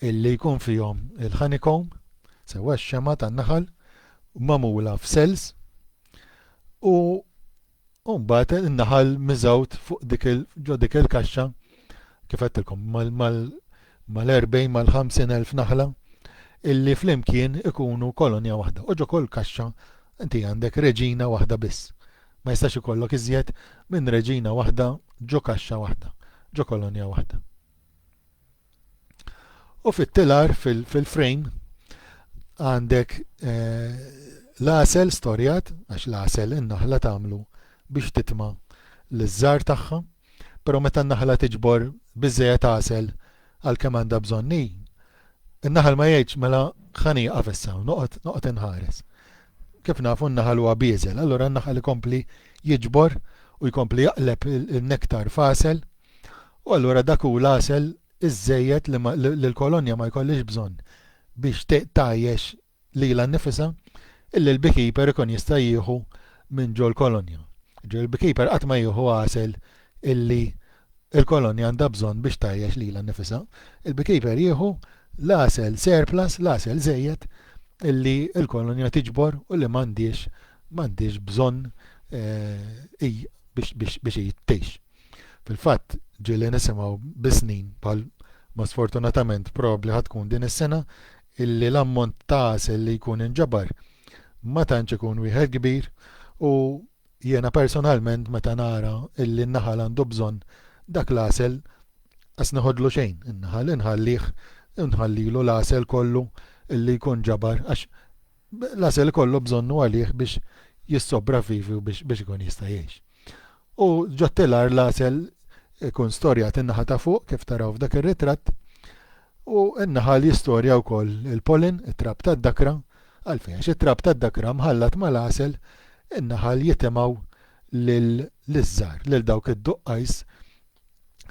A: illi jkun fihom il-honeycomb, sewa x-xema tan-naħal, mamula f'cells u U mbagħad in-naħal miżgħud fuq dik il ġo dik il-kaxxa kif għedtilkom mal-40 mal-50 elf naħla illi flimkien ikunu kolonja waħda. U ġo kull kaxxa inti għandek reġina waħda biss. Ma jistax ikollok iżjed minn reġina waħda ġo kaxxa waħda, ġo kolonja waħda. U fit-tilar fil-frame għandek eh, l-għasel storjat, għax l-għasel in-naħla tagħmlu biex titma l-żar tagħha, però meta n-naħla tiġbor biżejjed għasel għal kemm għandha bżonn hi, in-naħal ma jgħidx mela ħani għafessa, noqgħod noqgħod inħares. Kif nafu n-naħal huwa bieżel, allura n-naħal ikompli jiġbor u jkompli jaqleb il-nektar fasel U allura dak hu l-għasel iż-żejjed li ma, li l-kolonja ma jkollhiex bżonn biex te, tgħajjex lilha nnifisha, illi l-beekeeper ikun jista' jieħu minn ġol-kolonja. Jiġifieri l-beekeeper qatt ma jieħu għasel illi l-kolonja għandha bżonn biex tgħajjex lilha nnifisha. Il-beekeeper jieħu l-għasel surplus, l-għasel żejjed, illi l-kolonja tiġbor u li m'għandhiex, m'għandhiex bżonn, eh, hi biex, biex, biex hi tgħix. Fil-fatt, ġieli nisimgħu bi snin bħal ma sfortunatament probabbli ħa tkun din is-sena illi l-ammont ta' għasel li jkun inġabar ma tantx ikun wieħed kbir u jiena personalment meta nara illi n-naħal għandu bżonn dak l-għasel qas neħodlu xejn in-naħal inħallih inħallilu l-għasel kollu illi jkun ġabar għax L-għasel ikollu bżonnu għalih biex jissopravivi u biex ikun jista' jgħix. U ġot-telar l-għasel ikun storjat in-naħa ta' fuq kif taraw f'dak ir-ritratt u n-naħal jistorja wkoll il-pollen, it-trab tad-dakra, għalfejn għax it-trab tad-dakra mħallat mal-għasel in-naħal jitimgħu lill-żgħar, lil dawk id-duqqajs,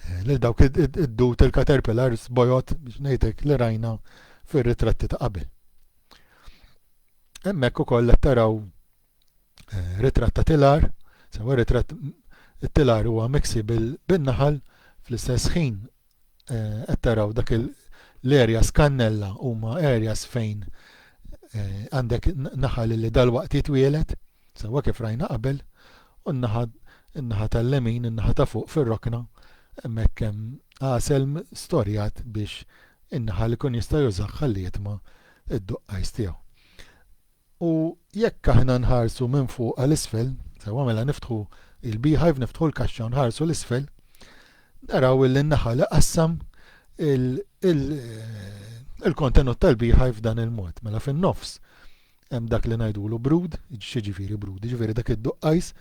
A: eh, lil dawk id-dut il-caterpillars bojot biex ngħidlek li rajna fir-ritratti ta' qabel. Hemmhekk ukoll qed taraw eh, ritratt ta' tilar, sewa ritratt it-tilar huwa miksi bin-naħal fl-istess ħin eh, qed taraw dak l-areas kannella huma areas fejn eh, għandek naħal li dal-waqt jitwielet Sewwa kif rajna qabel, u n-naħa in-naħa tal-lemin, in-naħa ta' fuq fir-rokna, hemmhekk hemm għasel storjat biex in-naħal ikun jista' jużah ħalli jitma' d-duqqajs tiegħu. U jekk aħna nħarsu minn fuq għal isfel, sewwa mela niftħu il-beehive, niftħu l-kaxxa u nħarsu l-isfel, naraw illi n-naħal iqassam il-kontenut tal-beehive f'dan il-mod. Mela fin-nofs Hemm dak li ngħidulu brud, x'jiġifieri brud? Jiġifieri dak id-duqqajs,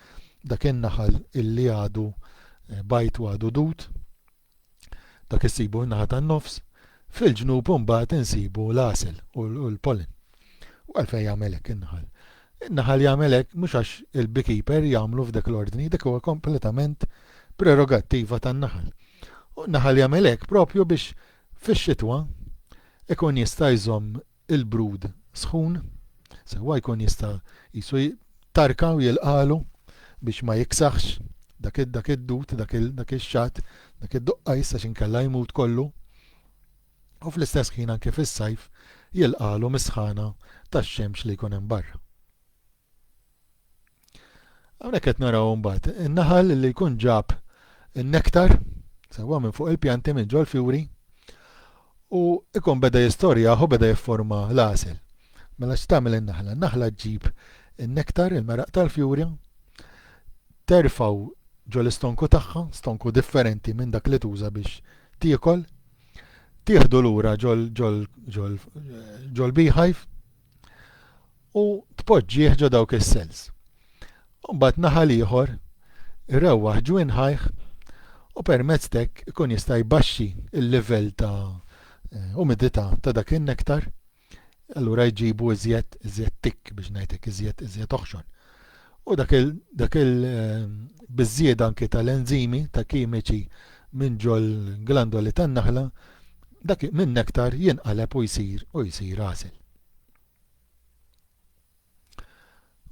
A: dak in-naħal illi għadu bajt u għadu dud, dak issibu fin-naħa tan-nofs, fil-ġnub imbagħad insibu l-għasel u l-pollen. U għalfejn jagħmel hekk in-naħal? In-naħal jagħmel hekk mhux għax il-beekeeper jagħmlu f'dak l-ordni, dak huwa kompletament prerogattiva tan-naħal. U n-naħal jagħmel hekk propju biex fix-xitwa ikun jista' jżomm il-brud sħun, sewwa jkun jista' qisu jtarka u jilqagħlu biex ma jiksaħx dak dak id-dud, dak il dak ix-xatt, dak id-duqqajs għax inkella jmut kollu. U fl-istess ħin anke fis-sajf jilqagħlu mis-sħana tax-xemx li jkun hemm barra. Hawnhekk qed naraw imbagħad in-naħal li jkun ġab in-nektar sewwa minn fuq il-pjanti minn ġol fjuri u ikun beda jistorjaħ u beda jifforma l-għasel. Mela x'tagħmel in-naħla? Naħla ġġib in-nektar, il-meraq tal-fjuri, terfaw ġol istonku tagħha, stonku differenti minn dak li tuża biex tiekol, tieħdu lura ġol ġol ġol ġol beehive u tpoġġih ġo dawk is-cells. Mbagħad naħal ieħor irewwaħ ġwien ħajh u permezz tek ikun jista' jbaxxi l-livell ta' eh, umidità ta' dak in-nektar. Allura jġibu iżjed iżjed tik biex ngħidlek iżjed iżjed oħxon. u dak il-biżżjieda anki tal-enżimi, ta' kimiċi minn ġol-glandoli tan-naħla, dak min-nektar jinqaleb u jsir u jsir għasel.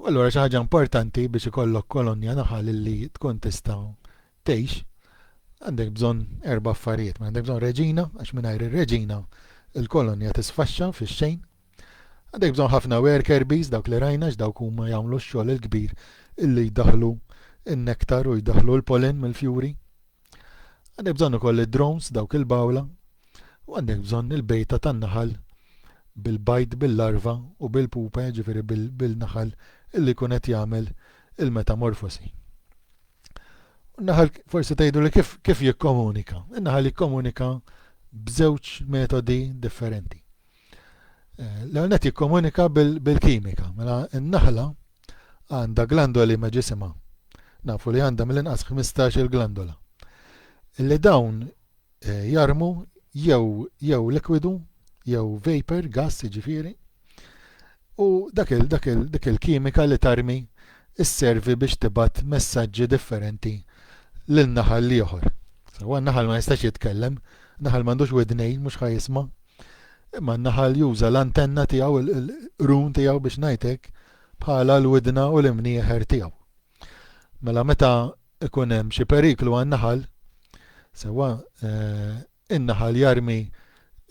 A: U allura xi ħaġa importanti biex ikollok kolonja naħal li tkun tista' tgħix, għandek bżonn erba' affarijiet, għandek bżonn reġina, għax mingħajr ir-reġina il-kolonja tisfaxxa fix-xejn, Għandek bżonn ħafna worker bees dawk li rajna x'dawk huma jagħmlu x-xogħol il-kbir illi jdaħħlu n-nektar u jdaħħlu l-pollen mill-fjuri. Għandek bżonn ukoll id-drones dawk il-bawla u għandek bżonn il-bejta tan-naħal bil-bajd, bil-larva u bil-pupa, ġifiri bil-naħal illi jkun qed jagħmel il-metamorfosi. Naħal forsi tgħidu li kif, kif jikkomunika? Naħal jikkomunika b'żewġ metodi differenti. Eh, l-ewwel qed jikkomunika bil-kimika. Mela n-naħla għandha glandoli ma' ġisimha. Nafu li għandha mill-inqas 15 il-glandola. Illi dawn eh, jarmu jew jew likwidu jew vapor, gas jiġifieri, u dak il, dak il, dik il-kimika li tarmi sservi biex tibgħat messaġġi differenti lil naħal l-ieħor. Sewwa n-naħal ma jistax jitkellem, naħal m'għandux widnejn mhux ħa jisma'. Imma n-naħal juża l-antenna tiegħu, il-qrun tiegħu biex ngħid hekk, bħala l-widna u l-imnieħer tiegħu. Mela meta ikun hemm xi periklu għan-naħal, sewwa eh, in-naħal jarmi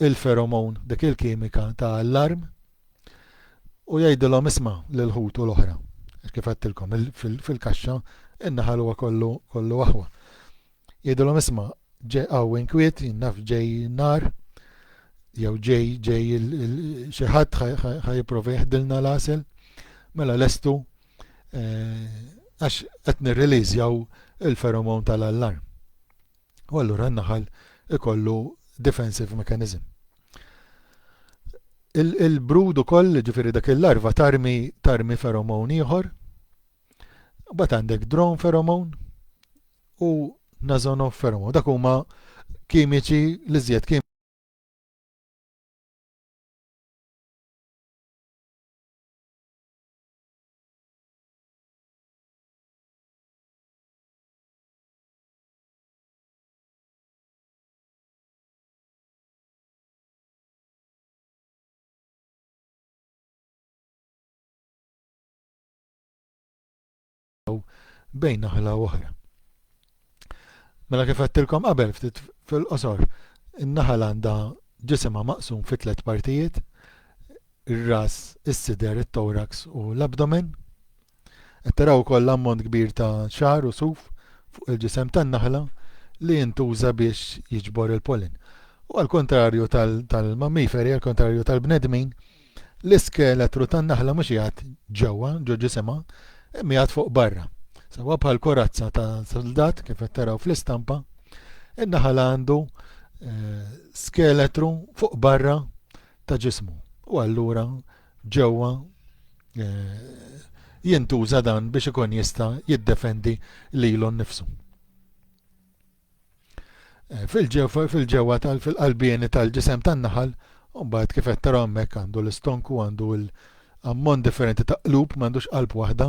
A: l-feromone, dik il-kimika ta' allarm, u jgħidilhom isma' lil ħutu l-oħra. Għax kif għedtilkom, fil-kaxxa in-naħal huwa kollu kollu aħwa. Jgħidilhom isma' ġej hawn inkwiet, jien naf ġej nar, jew ġej ġej xi ħadd ħa jipprova jeħdilna l-għasel, mela lestu eh, għax qed nirriliżjaw il-feromon tal-allarm. u allura n-naħal ikollu defensive mechanism. Il-brud ukoll, ġifieri dak il-larva tarmi tarmi feromon ieħor, bat għandek drone feromon u nazono feromon. Dak huma kimiċi li żjed kim bejn naħla u oħra. Mela kif għattilkom qabel ftit fil-qosor, in-naħal għandha ġisimha maqsum fi tliet partijiet, ir-ras, is-sider, it-thorax u l-abdomen. Qed taraw ukoll ammont kbir ta' xagħar u suf fuq il-ġisem tan-naħla li jintuża biex jiġbor il-pollen. U għall-kuntrarju tal-mammiferi, għall-kuntrarju tal-bnedmin, l-iskeletru tan-naħla mhux qiegħed ġewwa, ġo ġisimha, imma qiegħed fuq barra. Sewwa bħal korazza ta' soldat kif qed taraw fl-istampa, in-naħal għandu eh, skeletru fuq barra ta' ġismu u allura ġewwa jintuża dan biex ikun jista' jiddefendi lilu nnifsu. Fil-ġewwa tal fil-qalbieni tal-ġisem tan-naħal, mbagħad kif qed tara hemmhekk għandu l-istonku għandu l ammont differenti ta' qlub, m'għandux qalb waħda,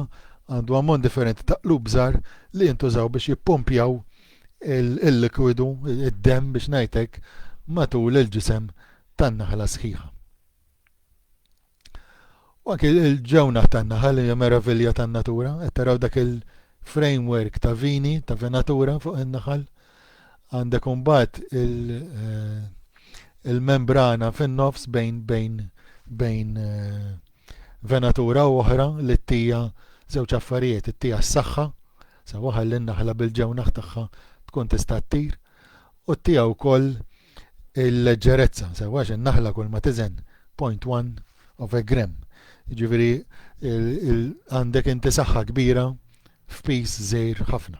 A: għandu ammont differenti ta' qlub żgħar li jintużaw biex jippumpjaw il-likwidu, id-demm biex ngħidlek, matul il-ġisem tan-naħla sħiħa. U anki il-ġewna tan-naħal hija meravilja tan-natura, qed taraw dak il-framework ta' vini, ta' venatura fuq in-naħal. Għandek imbagħad eh, il-membrana il fin-nofs bejn bejn bejn eh, venatura u oħra li t-tija żewġ affarijiet, it-tija s-saħħa, sa waħal l-naħla bil-ġewnaħ tagħha tkun tista' ttir, u t-tija wkoll il-leġġerezza, sewax in-naħla kull ma tiżen, point one of a gram. Ġifiri, għandek inti saħħa kbira f'pis żejr ħafna.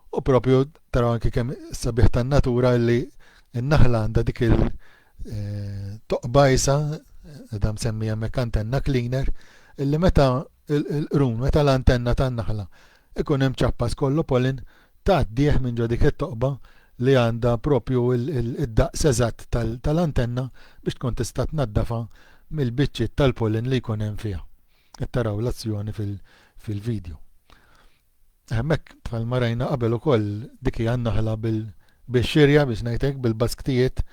A: U propju tara anki kemm sabiħ tan-natura li n-naħla għandha dik il-toqbajsa, eh, edha msemmi hemmhekk antenna cleaner, illi meta l-qrun, meta l-antenna tan-naħla Ikun hemm ċappa skollo pollen tgħaddih minn ġo dik it-toqba li għandha proprju d-daqs eżatt tal-antenna biex tkun tista' tnaddafha mill-biċċiet tal-pollen li jkun hemm fiha. Qed taraw l-azzjoni fil-video. Hemmhekk bħalma rajna qabel ukoll dik hija n-naħla bil-xirja biex ngħid hekk, bil-basktijiet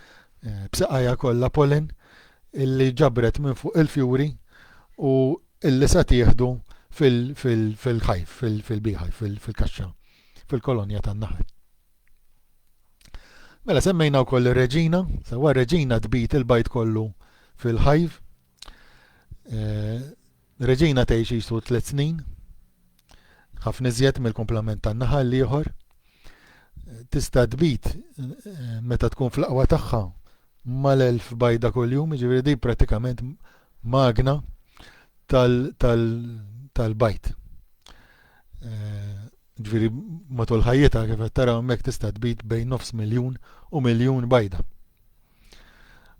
A: b'saqajha kollha pollen illi ġabret minn fuq il-fjuri u illi se tieħdu fil-hive, fil-beehive, fil-kaxxa, fil-kolonja tan-naħal. Mela semmejna wkoll ir-reġina, sewwa reġina tbid il-bajd kollu fil-hive. Eh, reġina tgħix jisu tliet snin, ħafna iżjed mill-komplement tan-naħal l-ieħor. Tista' tbid eh, meta tkun fl-aqwa tagħha mal-elf bajda kuljum, jiġifieri din prattikament magna tal-bajd. Jiġifieri matul ħajjitha kif qed taraw hemmhekk tista' tbid bejn nofs miljun u miljun bajda.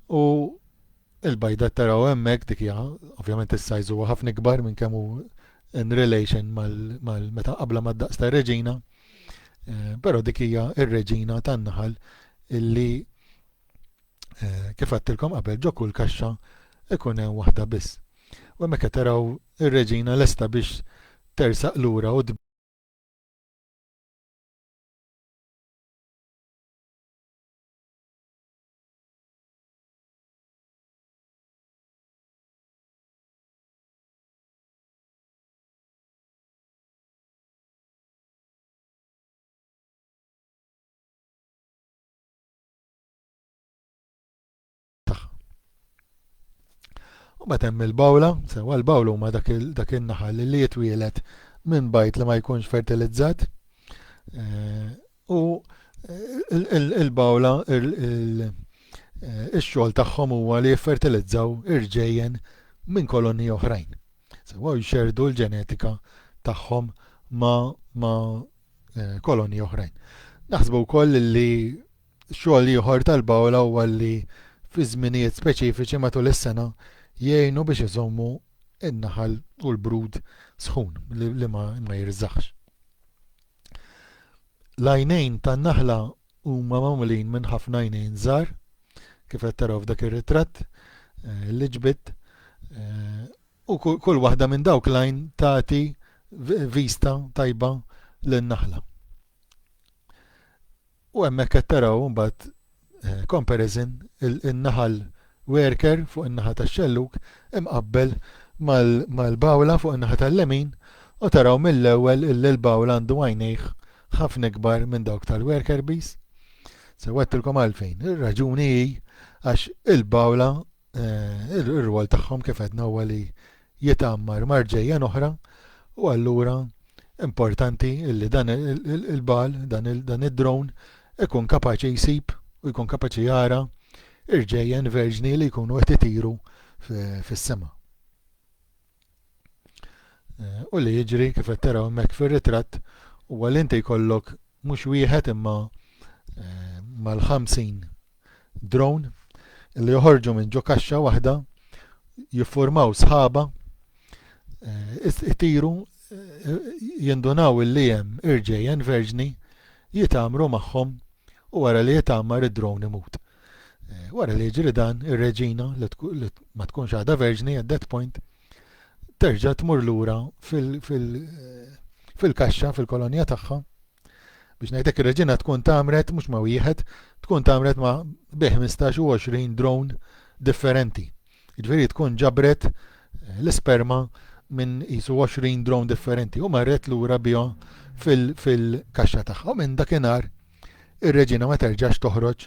A: U il-bajda taraw hemmhekk dik hija ovvjament is-sajż huwa ħafna ikbar minn kemm hu in relation mal-meta qabla mad-daqs tar-reġina, Però dik hija r-reġina tan-naħal illi kif għattilkom qabel ġo kull kaxxa ikun hemm waħda biss. U hemmhekk qed taraw ir-reġina lesta biex tersaq lura u U bat hemm il-bawla, sewa l-bawla huma dak in-naħal li jitwielet minn bajt li ma jkunx fertilizzat. Eh, U l-bawla, ix-xogħol tagħhom huwa li jiffertilizzaw irġejjen minn kolonji oħrajn. Sewwa jxerdu l-ġenetika tagħhom ma' eh, kolonji oħrajn. Naħsbu wkoll li xogħol ieħor tal-bawla huwa li fi żminijiet speċifiċi matul is-sena jgħinu biex iżommu in-naħal u l-brud sħun li ma jirżaħx. L-għajnejn tan-naħla huma magħmulin minn ħafna għajnejn żgħar, kif qed taraw f'dak ir-ritratt eh, li ġbidt. Eh, u kull waħda minn dawk lajn tagħti vista tajba lin-naħla. U hemmhekk qed taraw imbagħad comparison in-naħal werker fuq in-naħa tax-xellug imqabbel mal-bawla fuq in-naħa tal-lemin u taraw mill-ewwel illi l-bawla għandu għajnejh ħafna ikbar minn dawk tal-werker bees. Sewwettilkom għalfejn. Ir-raġuni hi għax il-bawla Ir-rwol tagħhom kif għedna huwa li jitgħammar marġejjen oħra u allura importanti li dan il-bal, dan id-drone ikun kapaċi jsib u jkun kapaċi jara irġejjen verġni li jkunu qed itiru fis-sema. U li jiġri kif qed taraw hemmhekk fir-ritratt huwa li inti jkollok mhux wieħed imma eh, mal-50 drone li joħorġu minn ġo kaxxa waħda jiffurmaw sħaba eh, itiru eh, jindunaw li hemm irġejjen verġni jitamru magħhom u wara li jitamar id-drone imut. Wara li jiġri dan, ir-reġina, li ma tkunx għadha verġni at that point, terġa' tmur lura fil-kaxxa, fil-kolonja tagħha, biex ngħidlek ir-reġina tkun tagħmret mhux ma' wieħed, tkun tagħmret ma' bi 15 u 20 drone differenti. Jiġifieri tkun ġabret eh, l-isperma minn jisu 20 drone differenti u marret lura bihom fil-kaxxa tagħha. U minn dakinhar ir-reġina ma terġax toħroġ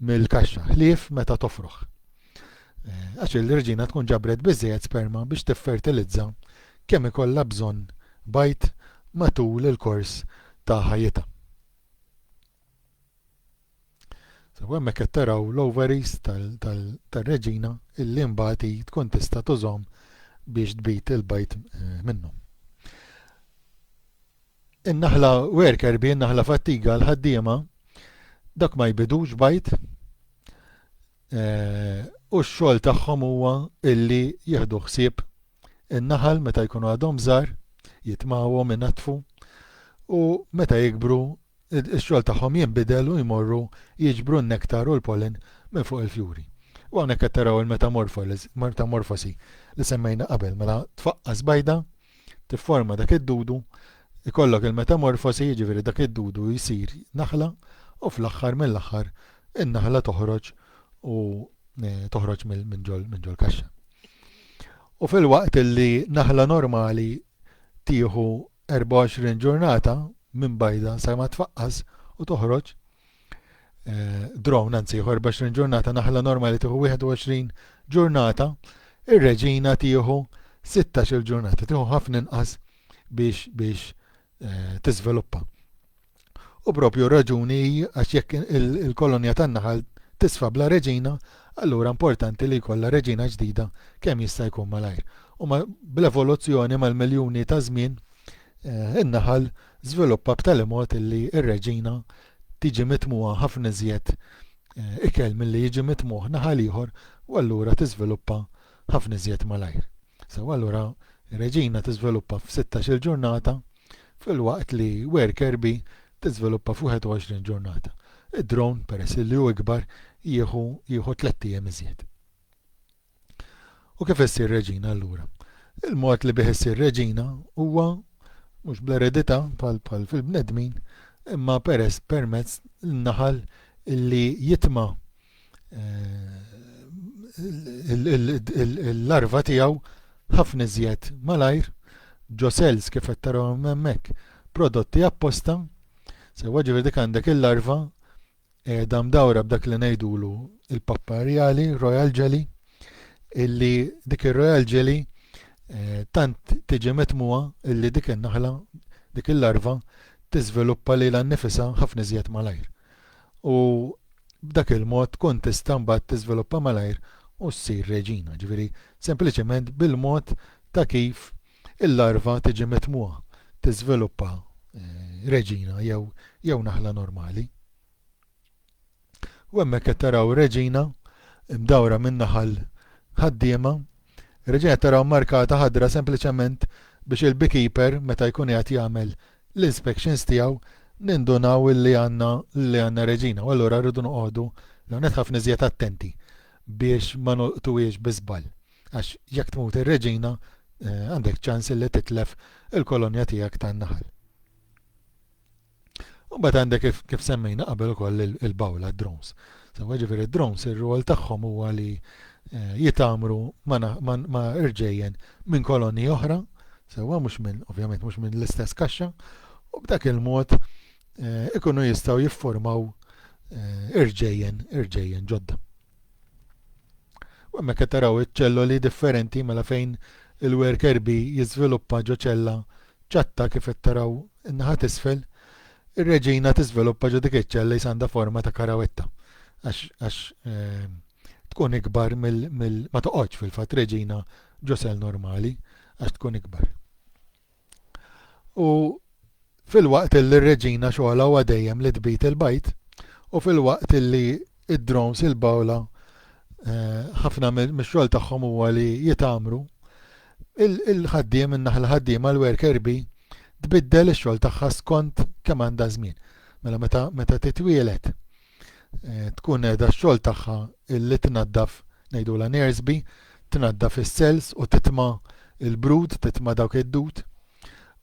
A: mill-kaxxa, ħlief meta tofroħ. Eh, għax il-reġina tkun ġabret biżżejjed sperma biex tiffertilizza kemm ikollha bżonn bajt matul il-kors ta' ħajjitha. So, hemmhekk qed taraw l-ovaries tal-reġina illi mbagħad tkun tista' tużhom biex tbid il-bajt eh, minnu. In-naħla werker bi n-naħla fattiga l-ħaddiema dak ma jbidux bajd u x-xogħol tagħhom huwa illi jieħdu ħsieb in-naħal meta jkunu għadhom żgħar jitmawhom inaddfu u meta jikbru x-xogħol tagħhom jinbidel u jmorru jiġbru n-nektar u l-pollen minn fuq il-fjuri. U hawnhekk qed taraw il-metamorfosi li semmejna qabel mela tfaqqas bajda tifforma dak id-dudu, ikollok il-metamorfosi jiġifieri dak id-dudu jsir naħla u fl-aħħar mill-aħħar in-naħla toħroġ u toħroġ minn ġol minn ġol kaxxa. U fil-waqt li naħla normali tieħu 24 ġurnata minn bajda sa ma tfaqqas u toħroġ, eh, drone anzi ieħor biex ġurnata naħla normali tieħu 21 ġurnata, ir-reġina tieħu 16 ġurnata, tieħu ħafna inqas biex biex eh, tiżviluppa. U propju raġuni għax jekk il-kolonja tan-naħal tisfa bla reġina, allura importanti li jkollha reġina ġdida kemm jista' jkun malajr. U bl-evoluzzjoni mal-miljuni ta' żmien eh, in-naħal żviluppa b'tali mod illi r-reġina tiġi mitmugħa ħafna iżjed ikel milli jiġi mitmugħ naħa l-ieħor u allura tiżviluppa ħafna iżjed malajr. Sew allura reġina tiżviluppa f'sittax-il ġurnata filwaqt li worker bee tiżviluppa f'wieħed u għoxrin ġurnata. Id-drone, peress illi hu ikbar, jieħu jieħu tlett ijiem iżjed. U kif issir reġina allura? Il-mod li bih issir reġina huwa mhux bl-eredità bħal bħal fil-bnedmin, imma peress permezz naħal li jitma eh, l-larva tiegħu ħafna iżjed malajr, ġosels kif qed taraw hemmhekk, prodotti apposta, sewa ġifieri dik għandek il-larva Qiegħda mdawra b'dak li ngħidulu l-pappa rjali, royal jelly, illi dik ir-royal jelly eh, tant tiġi mitmuha illi dik in-naħla, dik il-larva tiżviluppa lilha nnifisha ħafna iżjed malajr. U b'dak il-mod tkun tista' mbagħad tiżviluppa malajr u ssir reġina, ġifieri sempliċement bil-mod ta' kif Il-larva tiġi mitmugħa, tiżviluppa reġina jew jew naħla normali. U hemmhekk qed taraw reġina mdawra minn naħal ħaddiema, reġina taraw markata ħadra sempliċement biex il-beekeeper meta jkun qiegħed jagħmel l-inspections tiegħu nindunaw li għandna li għandna reġina u allura rridu noqogħdu l-ewwel nett ħafna iżjed attenti biex ma nolqtuhiex bi żball. Għax jekk tmut ir-reġina, għandek ċans illi titlef il-kolonja tiegħek tan-naħal. U mbagħad għandek kif, kif semmejna qabel ukoll il-bawla drones. Sewa ġifieri drones ir-rwol tagħhom huwa li eh, jitamru ma irġejjen minn kolonni oħra, sewa mhux minn ovvjament mhux minn l-istess kaxxa, u b'dak il-mod eh, ikunu jistgħu jiffurmaw eh, irġejjen irġejjen ġodda. U hemmhekk qed taraw iċ-ċelloli differenti mela fejn il-worker bee jiżviluppa ġo ċella ċatta kif qed taraw in-naħa t'isfel, ir-reġina tiżviluppa ġo dik iċ-ċella qisha għandha forma ta' karawetta għax għax tkun ikbar mill mill ma toqgħodx fil-fatt reġina ġo sell normali għax tkun ikbar. U filwaqt illi r-reġina xogħolha huwa dejjem li tbid il-bajd, u filwaqt illi id-drones il-bawla eh, ħafna mix-xogħol tagħhom huwa li jitgħamru, il-ħaddiem, in-naħla ħaddiema, l-worker bee, tbiddel ix-xogħol tagħha skont kemm għandha żmien. Mela meta, meta titwielet tkun qiegħda x-xogħol tagħha illi tnaddaf ngħidulha nersbi, tnaddaf is-cells u titma' l-brud, titma' dawk id-dud.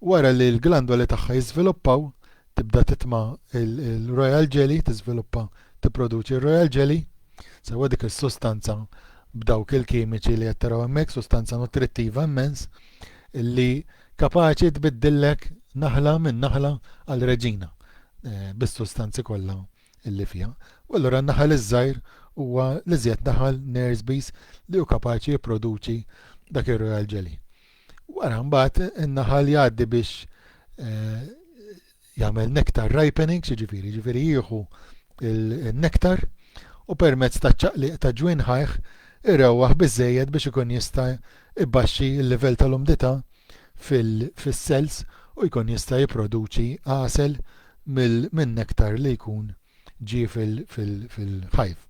A: Wara li l-glandoli tagħha jiżviluppaw, tibda titma' l-royal jelly, tiżviluppa tipproduċi r-royal jelly, sewwa dik is-sustanza b'dawk il-kimiċi li qed taraw hemmhekk, sustanza nutrittiva immens, li Kapaċi tbiddillek naħla minn naħla għal reġina bis-sustanzi kollha li fiha. U allura n-naħal iż-żgħir huwa l-iżjed naħal nerves bees li hu kapaċi jipproduċi dak ir-royal jelly. Wara mbagħad in-naħal jgħaddi biex eh, jagħmel nectar ripening, jiġifieri jiġifieri jieħu n-nektar u permezz taċ-ċaqliq ta' ġwien ħajh irewwaħ biżżejjed biex ikun jista' jbaxxi l-livell tal-umdità fis-cells u jkun jista' jipproduċi għasel min-nektar li jkun ġie fil-hive.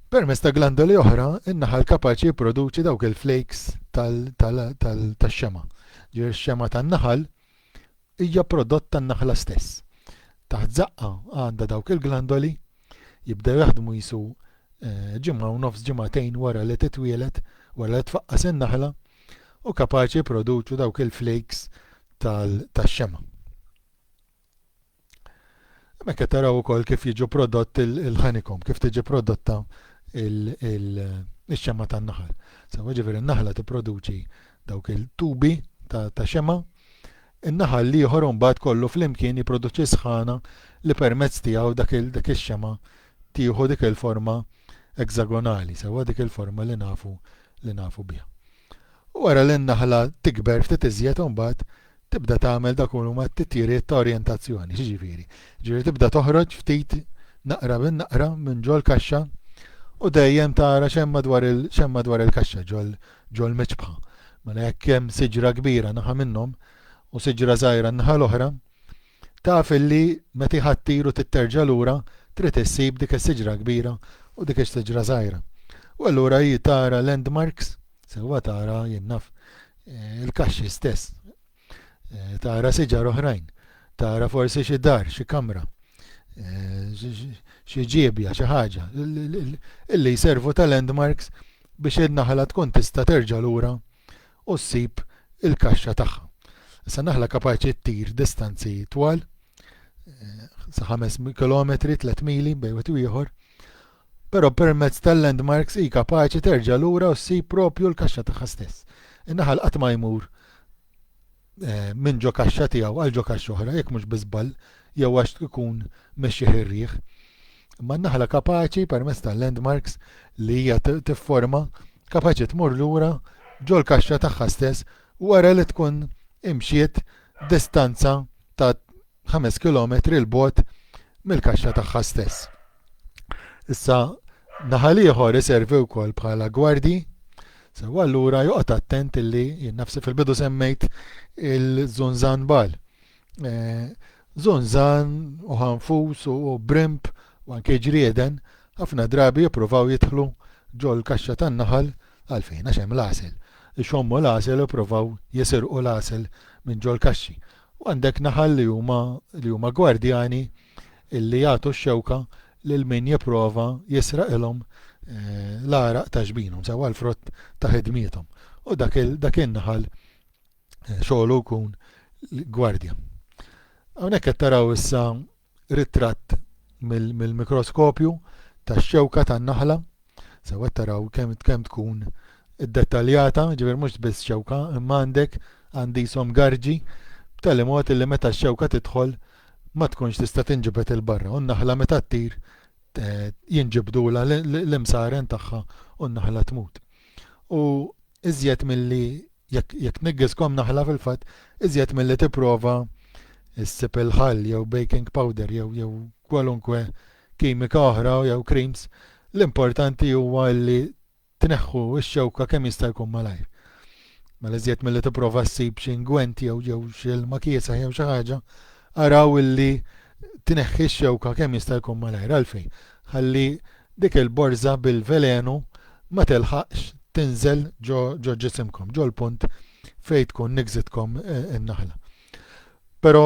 A: Permezz ta' glandoli oħra, in-naħal kapaċi jipproduċi dawk il-flakes tax-xema'. Ġifieri x-xema' tan-naħal hija prodott tan-naħla stess. Taħt żaqqa għandha dawk il-glandoli, jibdew jaħdmu qisu ġimgħa u nofs ġimagħtejn wara li titwieled, wara li tfaqqas in-naħla, u kapaċi jipproduċu dawk il-flakes tax-xemgħa. Hemmhekk qed taraw ukoll kif jiġu prodott il-ħanikom, kif tiġi prodotta il-xemma tan-naħal. Sewa ġifieri n-naħla tipproduċi dawk il-tubi ta' xema, in-naħal li ieħor imbagħad kollu flimkien jipproduċi sħana li permezz tiegħu dak ix-xema tieħu dik il-forma eksagonali, sewa dik il-forma li nafu li nafu biha. Wara li n-naħla tikber ftit iżjed imbagħad tibda tagħmel dak li huma t-titjiriet ta' orjentazzjoni. X'jiġifieri? Ġifieri tibda toħroġ ftit naqra bin naqra minn ġol kaxxa u dejjem tara x'hemm madwar il x'hemm madwar il-kaxxa ġol ġol miċbħa. Mela jekk hemm siġra kbira naħa minnhom u siġra żgħira n-naħa l-oħra, Taf illi meta jħattir u titterġa' lura trid issib dik is-siġra kbira u dik is-siġra żgħira. U allura hi tara landmarks, sewwa tara, jien naf, il-kaxxi stess. Tara siġar oħrajn, tara forsi xi dar, xi kamra, xi ġiebja, xi ħaġa, illi jservu ta' landmarks biex in-naħla tkun tista' terġa' lura u ssib il-kaxxa tagħha. Issa naħla kapaċi ttir distanzi twal, sa 5 km, 3 mili bejn wieħed u ieħor, però permezz tal-landmarks hi kapaċi terġa' lura u ssib propju l-kaxxa tagħha stess. In-naħal qatt ma jmur minn ġo kaxxa tiegħu għal ġo kaxxa oħra, jekk mhux bi żball jew għax ikun mexxih ir-riħ. Imma n-naħla kapaċi, permezz tal-landmarks li hija tifforma, kapaċi tmur lura ġol-kaxxa tagħha stess wara li tkun imxiet distanza ta' ħames kilometri 'l bogħod mill-kaxxa tagħha stess. Issa naħal ieħor iservi wkoll bħala gwardji, sew allura joqgħod attent illi jien nafsi fil-bidu semmejt il-żunżan bal. Eh, żunżan u ħanfus u brimp u anke ġrieden ħafna drabi jippruvaw jidħlu ġol kaxxa tan-naħal għalfejn għax hemm l-għasel. Ixommu l-għasel u provaw jisirqu l-għasel minn ġol kaxxi. U għandek naħal li huma li huma gwardjani li jagħtu x-xewka lil min jipprova jisraqilhom l-għaraq ta' ġbinhom, sewwa l-frott ta' ħidmiethom. U dak il, dak in-naħal xogħlu jkun gwardja. Hawnhekk qed taraw issa Ritratt mill-mikroskopju tax-xewka tan-naħla. Sew qed taraw kemm kemm tkun iddettaljata, ġifier mhux biss xewka, imma għandek għandisom garġi b'tali mod illi meta x-xewka tidħol ma tkunx tista' tinġibed 'il barra u n-naħla meta ttir jinġibdulha l-imsaren tagħha u n-naħla tmut. U iżjed milli, jekk tniggiskom naħla fil-fatt, iżjed milli tipprova ssib il-ħall jew baking powder jew kwalunkwe kimika oħra jew creams, l-importanti huwa li tneħħu x-xewka kemm jista' jkun malajr. Mela iżjed milli tipprova ssib xi ingwent jew jew xi ilma kiesaħ jew xi ħaġa, araw illi tneħħi x-xewka kemm jista' jkun malajr. Għalfejn? ħalli dik il-borża bil-velenu ma tilħaqx tinżel ġo ġisimkom, ġol-punt fejn tkun niggżitkom in-naħla. Però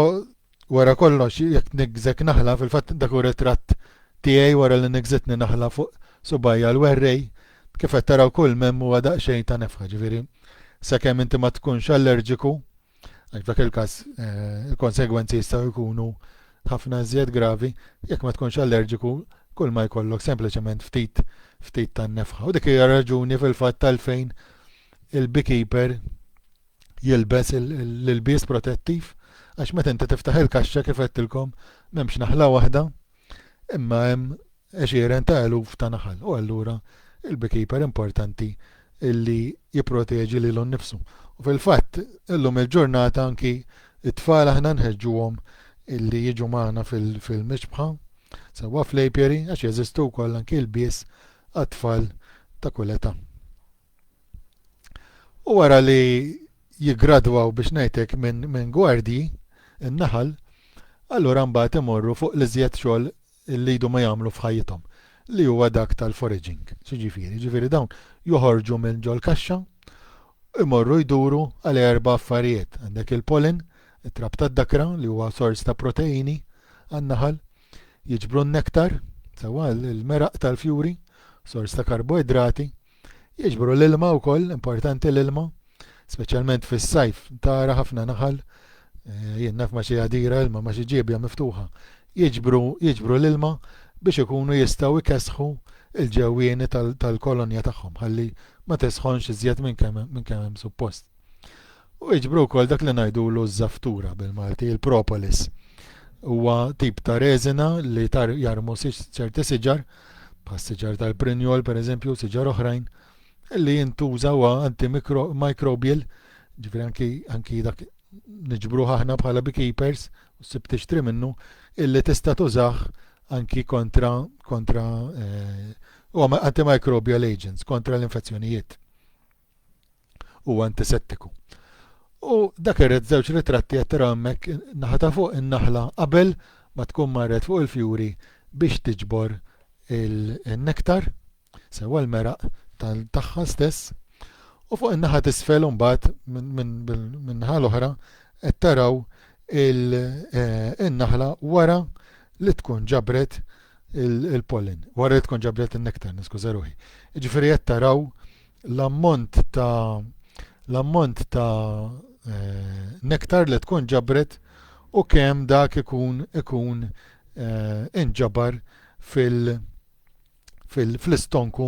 A: wara kollox jekk niggżek naħla, fil-fatt dak hu ritratt tiegħi wara li niggżitni naħla fuq subgħajja l-werrej, kif qed taraw kull m'hemm huwa daqsxejn ta' nefħa, ġifieri sakemm inti ma tkunx allerġiku, Għaliex f'dak il-każ il-konsegwenzi jistgħu jkunu ħafna iżjed gravi jekk ma tkunx allerġiku kull ma jkollok sempliċement ftit ftit tan-nefħa. U dik hija raġuni fil-fatt għalfejn il-beekeeper jilbes l-ilbies protettiv għax meta inti tiftaħ il-kaxxa kif għedtilkom m'hemmx naħla waħda Imma hemm għexieren ta' eluf ta' naħal u allura il-beekeeper importanti li jipproteġi lilu nnifsu. U fil-fatt, illum il-ġurnata anki t-tfal aħna nħeġġuhom li jiġu magħna fil-mixbħa sewwa fl-apiary għax jeżistu wkoll anki lbies għat-tfal ta' kull età. U wara li jiggradwaw biex ngħidlek minn min gwardji n-naħal, allura mbagħad imorru fuq l-iżjed xogħol li jdu ma jagħmlu f'ħajjithom, li huwa dak tal-foraging. X'jiġifieri? Jiġifieri dawn joħorġu minn ġol-kaxxa u jmorru jduru għal erba' affarijiet. Għandek il-pollen, it-trab tad-dakra li huwa sors ta' proteini għan-naħal, jiġbru n-nektar, sewwa l-meraq tal-fjuri, sors ta' karboidrati, Jiġbru l-ilma wkoll, importanti l-ilma, speċjalment fis-sajf tara ħafna naħal, eh, jien naf ma xi għadira ilma ma xi ġiebja miftuħa. Jiġbru, jiġbru l-ilma biex ikunu jistgħu jkessħu il-ġewwieni tal-kolonja tagħhom ħalli ma tisħonx iżjed minn kemm hemm suppost. U jiġbru wkoll dak li ngħidulu ż-żaftura bil-Malti, il-propolis. Huwa tip ta' reżina li tar jarmu ċerti siġar, bħas-siġar tal-prinjol pereżempju, siġar oħrajn, li jintuża huwa antimicrobial, ġifieri anki, anki dak niġbruh aħna bħala beekeepers, u ssib tixtri minnu, illi tista' tużah anki kontra, kontra eh, huwa antimicrobial agents, kontra l-infezzjonijiet. Huwa antisettiku. U dak irrid żewġ ritratti qed tara hemmhekk naħa ta' fuq in-naħla qabel ma tkun marret fuq il-fjuri biex tiġbor il-nektar, sewwa l-meraq tagħha stess. U fuq in-naħa t'isfel imbagħad min-naħa l-oħra qed taraw eh, in-naħla wara li tkun ġabret il-pollen, wara li tkun ġabret in-nektar, niskuża ruħi. Ġifieri qed taraw l-ammont ta' l-ammont ta' nektar li tkun ġabret u kemm dak ikun ikun inġabar fil fil fl-istonku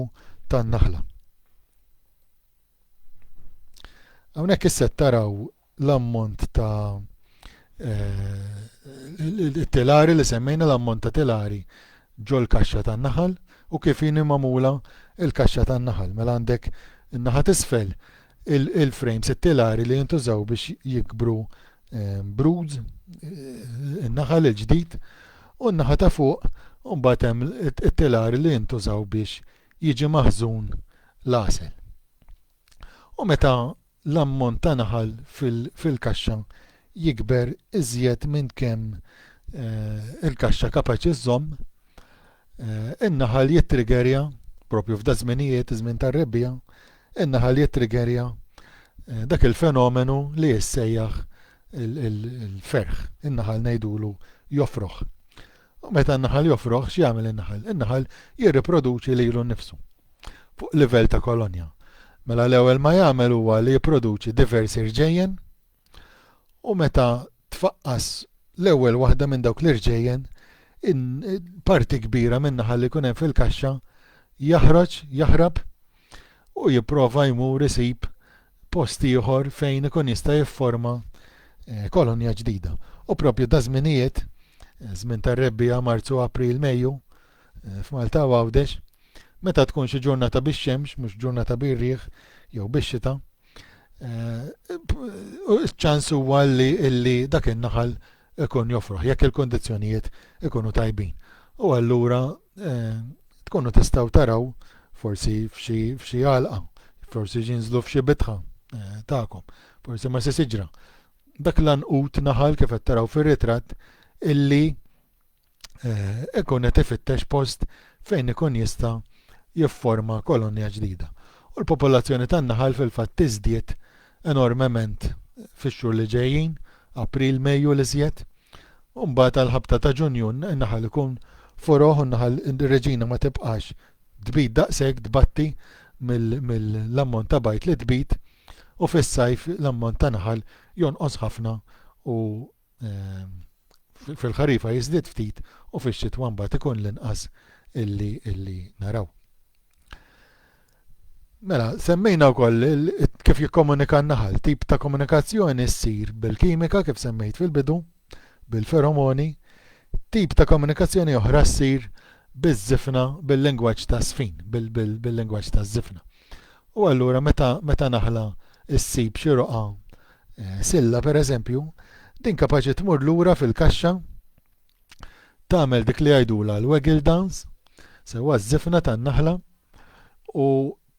A: tan-naħla. Hawnhekk issa qed taraw l-ammont ta' it-telari li semmejna, l-ammont ta' telari ġol-kaxxa tan-naħal u kif inhi magħmula l-kaxxa tan-naħal. Mela għandek in-naħa t'isfel il-frames, it-telari li jintużaw biex jikbru ehm, broods, eh, in-naħal il-ġdid, u n-naħa ta' fuq mbagħad hemm it-telari li jintużaw biex jiġi maħżun l-għasel. U meta l-ammont ta' naħal fil-kaxxa jikber iżjed minn kemm il-kaxxa kapaċi żżomm, in-naħal jittrigerja, proprju f'daż-żminijiet, iż-żmien tar-rebbiegħa, in-naħal jittrigerja dak il-fenomenu li jissejjaħ il-ferħ, in-naħal ngħidulu jofroħ. U meta n-naħal jofroħ, x'jagħmel in-naħal? In-naħal jirriproduċi lilu nnifsu fuq livell ta' kolonja. Mela l-ewwel ma jagħmel huwa li jipproduċi diversi rġejjen u meta tfaqqas l-ewwel waħda minn dawk l-irġejjen, parti kbira min-naħal li jkun hemm fil-kaxxa jaħroġ, jaħrab u jipprova jmur isib post ieħor fejn ikun jista' jifforma kolonja ġdida. U propju da żminijiet, żmien tar-rebbiegħa Marzu, April, Mejju, f'Malta u Għawdex, meta tkun xi ġurnata bix-xemx, mhux ġurnata bir-riħ jew bix-xita, eh, ċans huwa li dak in-naħal ikun joffruh jekk il-kundizzjonijiet ikunu tajbin. U allura tkunu tistgħu taraw forsi f'xi għalqa, forsi ġinżlu f'xi bitħa tagħkom, forsi ma' xi siġra. Dak l-għanqud naħal kif qed taraw fir-ritratt illi eh, ikun qed ifittex post fejn ikun jista' jifforma kolonja ġdida. U l-popolazzjoni tan-naħal fil-fatt tiżdied enormement fix-xhur li ġejjin, April, Mejju li żjed. U mbagħad għall-ħabta ta' Ġunju n-naħal ikun foroħ u n-naħal reġina ma tibqax tbid daqshekk tbatti mill-ammont ta' bajt li tbid u fis-sajf l-ammont ta' naħal jonqos ħafna u fil-ħarifa jiżdied ftit u fix-xitwa mbagħad ikun l-inqas illi illi naraw. Mela, semmejna wkoll kif jikkomunika n-naħal, tip ta' komunikazzjoni ssir bil-kimika kif semmejt fil-bidu, bil-feromoni, tip ta' komunikazzjoni oħra ssir biż-żifna bil-lingwaġġ ta' sfin, bil-lingwaġġ ta' żifna. Bil U allura meta, meta naħla ssib xi roqgħa eh, silla pereżempju, din kapaċi tmur lura fil-kaxxa tagħmel dik li jgħidula l-waggle dance, sewwa ż-żifna tan-naħla u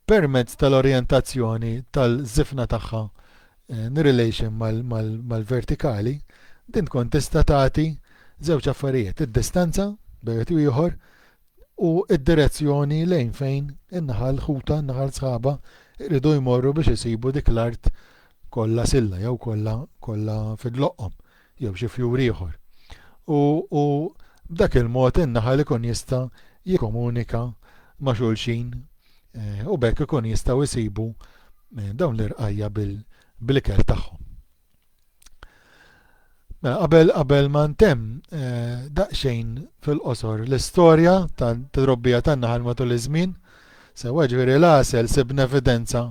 A: permezz tal-orjentazzjoni tal-żifna tagħha eh, in relation mal-vertikali, din tkun tista' tagħti żewġ affarijiet, id-distanza bejn ieħor u d-direzzjoni lejn fejn in-naħal ħutha, in-naħal sħabha jridu jmorru biex isibu dik l-art kollha silla jew kollha kollha fidloqhom jew xi fjur ieħor. U, u b'dak il-mod in-naħal ikun jista' jikkomunika ma' xulxin eh, u bekk ikun jistgħu jsibu eh, dawn l-irqajja bil-ikel tagħhom. Mela qabel qabel ma ntemm eh, daqsxejn fil-qosor l-istorja ta' trobbija tan-naħal matul iż-żmien. Sewwa ġifieri l-għasel sibna evidenza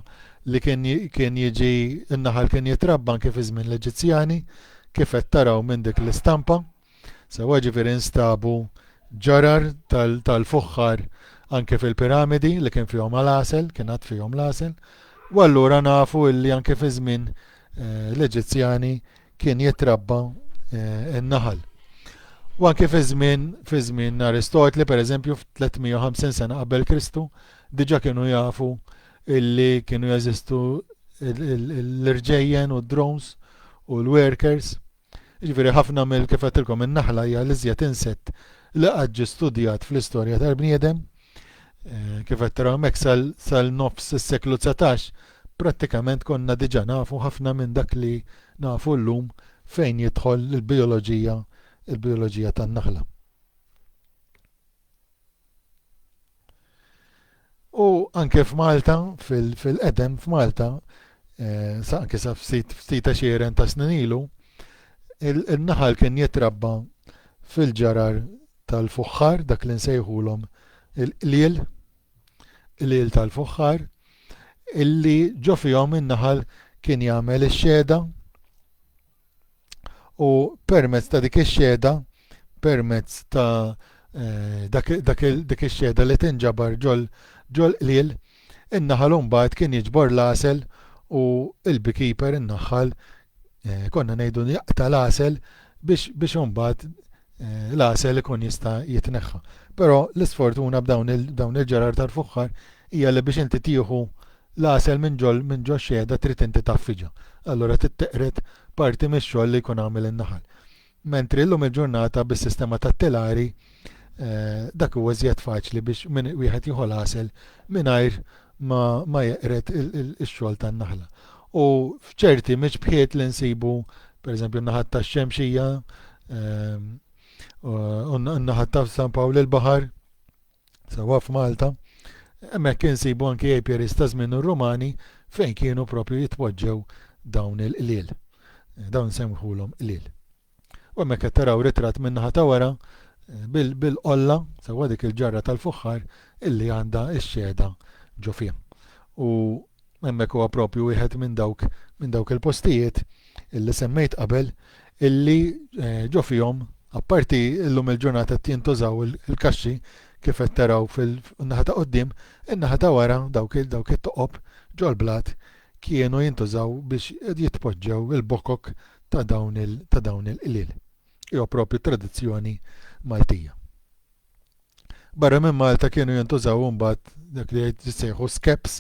A: li kien kien jiġi n-naħal kien jitrabba anke fi żmien l-Eġizzjani kif qed taraw minn dik l-istampa. Sewwa jiġifieri nstabu ġarar tal-fuħħar anke fil-piramidi li kien fihom għal-għasel, kien għad fihom l-għasel, u allura nafu illi anke fi żmien eh, l-Eġizzjani kien jitrabba eh, n-naħal. U anke fi żmien fi żmien Aristotli, pereżempju f'350 sena qabel Kristu, diġa kienu jafu illi kienu jeżistu l-irġejjen u d-drones u l-workers Jiġifieri ħafna mill-, kif għedtilkom, in-naħla hija l-iżjed insett li qatt ġie studjat fl-istorja tal-bniedem. Kif qed taraw hemmhekk sal-nofs is-seklu dsatax prattikament konna diġà nafu ħafna minn dak li nafu llum fejn jidħol il-bijoloġija il-bijoloġija tan-naħla. U anke f'Malta, fil-qedem f'Malta, eh, anke sa ftit ftit xieren ta' snin ilu, il-naħal kien jitrabba fil-ġarar tal-fuħħar, dak li nsejħulhom il-qliel, qliel tal-fuħħar, illi ġo fihom in-naħal kien jagħmel ix-xeda u permezz ta' dik ix-xhieda, permezz ta' eh, dak ix-xhieda li tinġabar ġol ġol qliel, in-naħal imbagħad kien jiġbor l-għasel u l-beekeeper in-naħħal eh, konna ngħidu jaqta' l-għasel biex biex imbagħad eh, l-għasel ikun jista' jitneħħa. Però l-isfortuna b'dawn il-ġerar tal-fuħħar hija li biex inti tieħu L-għasel minn ġol minn ġox-xehda trid inti taffiġha, allura trid teqred parti mix-xogħol li jkun għamel in-naħal. Mentri llum il-ġurnata bis-sistema tat-telari dak huwa iżjed faċli biex wieħed jieħu l-għasel mingħajr ma ma jeqred ix-xogħol tan-naħla. U f'ċerti miċbħiet li nsibu pereżempju n-naħat tax-Xemxija u n-naħat ta' San Pawl il-Baħar, sewwa f'Malta, hemmhekk insibu anki apiaries ta' żmien ir-Rumani fejn kienu proprju jitpoġġew dawn il-qliel. Dawn insemmħulhom qliel. U hemmhekk qed taraw ritratt min-naħa ta' wara bil-qolla sewwa dik il-ġarra tal-fuħħar illi għandha x-xehda ġo fiha. U Hemmhekk huwa proprju wieħed minn dawk minn dawk il-postijiet li semmejt qabel illi ġo fihom apparti illum il-ġurnata qed jintużaw il-kaxxi kif qed taraw fin-naħa ta' quddiem, in-naħa ta' wara dawk dawk it-toqob ġol-blat kienu jintużaw biex jitpoġġew il-bokok ta' dawn il ta' dawn il-qliel. Huwa proprju tradizzjoni Maltija. Barra minn Malta kienu jintużaw imbagħad dak li jissejħu skeps,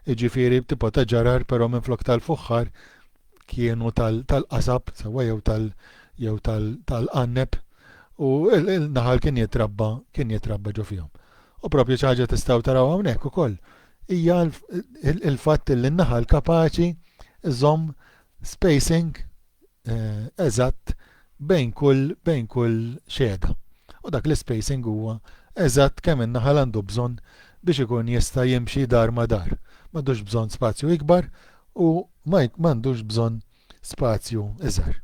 A: jiġifieri tipo ta' ġarar però minflok tal-fuħħar kienu tal-qasab sewwa jew tal jew tal-qanneb u l-naħal kien jitrabba kien jitrabba ġo fihom. U propju xi ħaġa tistgħu taraw hawnhekk ukoll hija l-fatt li n-naħal kapaċi żomm spacing eżatt bejn kull bejn kull xehda. U dak l-ispacing huwa eżatt kemm in-naħal għandu bżonn biex ikun jista' jimxi dar ma' dar. M'għandux bżonn spazju ikbar u ma m'għandux bżonn spazju iżgħar.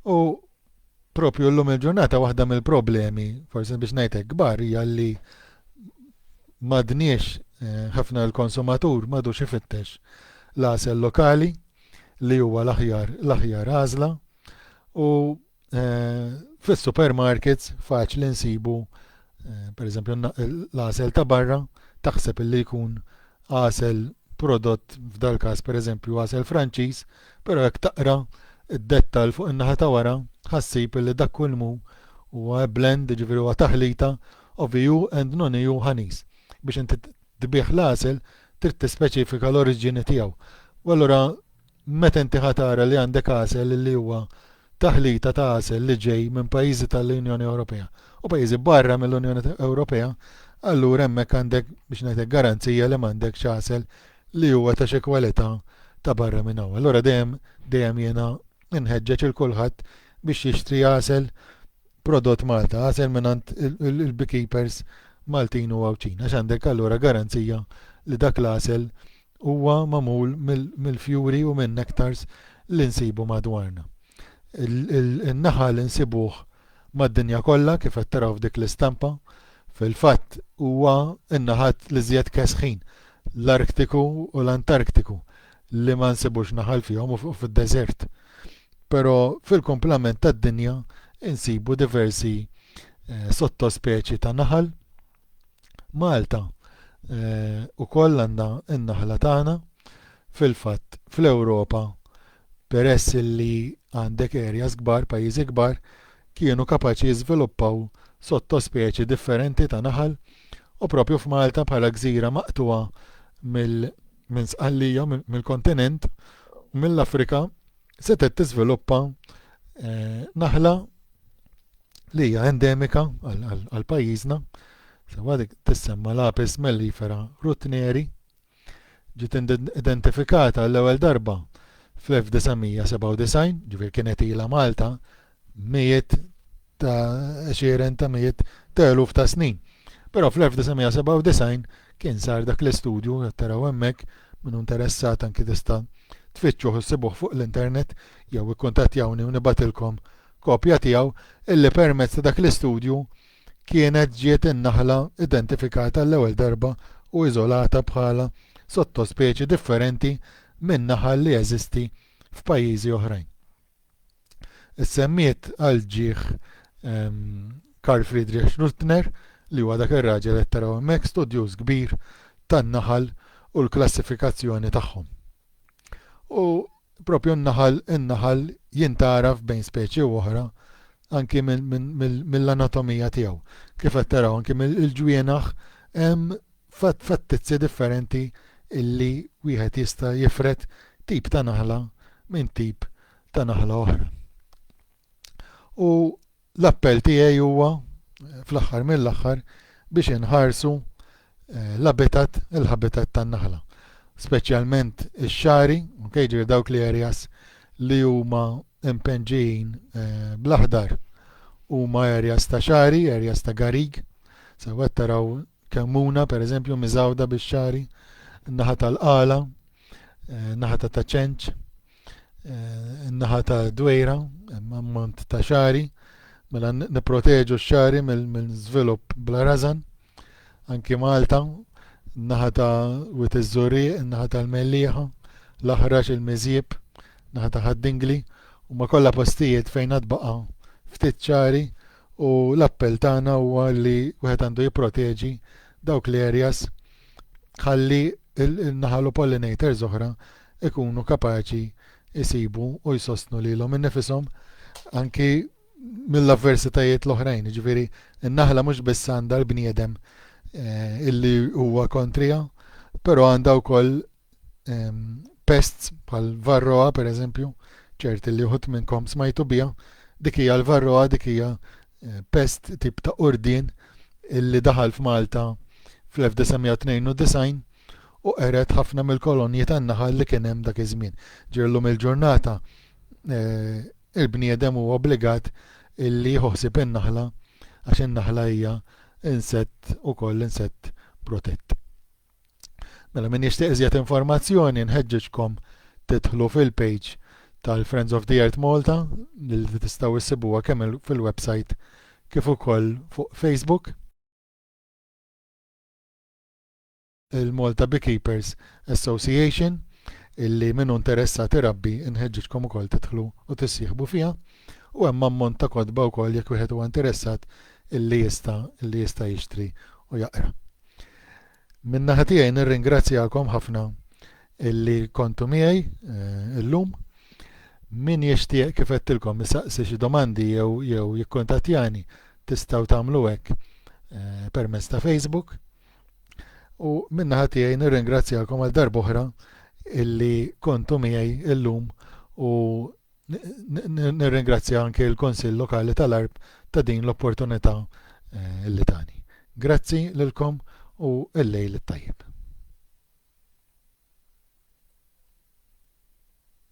A: U proprju llum il-ġurnata waħda mill-problemi, forsi biex ngħid hekk kbar, hija li m'għadniex eh, ħafna l-konsumatur m'għadux ifittex l-għasel lokali li huwa l-aħjar l-aħjar għażla u eh, fis-supermarkets faċli nsibu pereżempju l-għasel ta' barra, taħseb illi jkun għasel prodott f'dal-każ pereżempju għasel Franċiż, però jekk taqra d-dettall fuq in-naħa ta' wara ħassib illi dak kulmu huwa blend, jiġifieri huwa taħlita of EU and non-EU honeys. Biex inti tbigħ l-għasel trid tispeċifika l-oriġini tiegħu. U allura Meta inti ħa tara li għandek għasel li huwa taħlita ta' għasel li ġej minn pajjiżi tal-Unjoni Ewropea u pajjiżi barra mill-Unjoni Ewropea, allura hemmhekk għandek, biex ngħid hekk, garanzija li m'għandekx għasel li huwa ta' xi kwalità ta' barra minn hawn. Allura dejjem, dejjem jiena nħeġġeġ 'il kulħadd biex jixtri għasel prodott Malta, għasel mingħand il-beekeepers Maltin u Għawdxin, għax għandek allura garanzija li dak l-għasel Huwa magħmul mill-fjuri u min-nektars li nsibu madwarna. In-naħal insibuh mad-dinja kollha kif qed taraw f'dik l-istampa. Fil-fatt huwa n-naħat l-iżjed kesħin, l-Arktiku u l-Antarktiku, li ma nsibux naħal fihom u fid-deżert. Però fil-kumplament tad-dinja insibu diversi sottospeċi ta' naħal. Malta wkoll għandha n-naħla tagħna. Fil-fatt fl-Ewropa peress li għandek areas kbar, pajjiżi kbar, kienu kapaċi jiżviluppaw sottospeċi differenti ta' naħal u proprju f'Malta bħala gżira maqtugħa minn Sqallija, mill-kontinent, mill-Afrika, setgħet tiżviluppa eh, naħla li hija endemika għal pajjiżna, sewa dik tissemma l-apis mellifera rutneri, ġiet identifikata l-ewwel darba fl-1997, ġifier kienet ilha Malta mijiet ta' għexieren ta' mijiet ta' eluf ta' snin. Però fl-1997 kien sar dak l-istudju qed taraw hemmhekk min hu interessat anki tista' tfittxuh issibuh fuq l-internet jew ikkuntattjawni u nibgħatilkom kopja tiegħu illi permezz ta' dak l-istudju kienet ġiet in-naħla identifikata għall-ewwel darba u iżolata bħala sottospeċi differenti minn naħal li jeżisti f'pajjiżi oħrajn. Issemmiet għal ġieħ Karl Friedrich Schröttner, li huwa dak ir-raġel li qed taraw hemmhekk, studjuż kbir tan-naħal u l-klassifikazzjoni tagħhom. U propju n-naħal in-naħal jintgħaraf bejn speċi u oħra anki mill-anatomija tiegħu. Kif qed taraw anki mill-ġwienaħ hemm fattizzi differenti illi wieħed jista' jifred tip ta' naħla minn tip ta' naħla oħra. U l-appell tiegħi huwa fl-aħħar mill-aħħar biex inħarsu eh, l-abitat, il-habitat tan-naħla. Speċjalment ix-xari, okay, ġir dawk li areas li huma impenġin eh, bl-aħdar huma areas ta' xari, areas ta' garig, sewwet taraw Kemmuna, per eżempju, miżgħuda bix-xagħri, in-naħa tal-qala, in-naħa ta' taċenċ, in-naħa ta' dwejra, ammont ta' xagħri, mela nipproteġu x-xagħri mill-żvilupp bla rażan, anki Malta, in-naħa ta' wit iż-żurrieq, in-naħa tal-mellieħa, l-aħrax, il-miżjieb, in-naħa ta' ħad-dingli, huma kollha postijiet fejn għad baqa' ftit xagħri u l-appell tagħna huwa li wieħed għandu jipproteġi dawk l-areas ħalli n-naħal u pollinators oħra ikunu kapaċi jsibu u jsostnu lilhom innifishom anki mill-avversitajiet l-oħrajn, jiġifieri n-naħla mhux biss għandha l-bniedem eh, illi huwa kontrija, però għandha wkoll ehm, pests bħal varroa per eżempju, ċerti li uħut minnkom smajtu bija, dik hija l-varroa dik hija eh, pest tip ta' urdin illi daħal f'Malta fl-1992 u qeret ħafna mill-kolonji tan-naħal li kien hemm dak iż-żmien. Ġirlu mill-ġurnata eh, il-bniedem huwa obbligat illi jħossib in-naħla għax in-naħla hija insett ukoll insett protett. Mela min jixtieq iżjed informazzjoni nħeġġeġkom tidħlu fil-page tal-Friends of the Earth Malta li tistgħu issibuha kemm fil-website kif ukoll fuq Facebook. Il-Malta Beekeepers Association illi minnu interessat irabbi nħeġġeġkom ukoll tidħlu u tissieħbu fiha u hemm ammont ta' kotba wkoll jekk wieħed huwa interessat illi jista' illi jista' jixtri u jaqra. Min-naħa tiegħi nirringrazzjakom ħafna illi kontu miegħi eh, illum. Min jixtieq kif qedtilkom isaqsi xi domandi jew jew jikkuntattjani tistgħu tagħmlu hekk eh, permezz ta' Facebook. U min-naħa tiegħi nirringrazzjakom għal darb'oħra illi kontu miegħi illum u Nirringrazzja anke l-Kunsill Lokali tal-Għarb ta' din l-opportunità li tani. Grazzi lilkom u l-lejl it-tajjeb.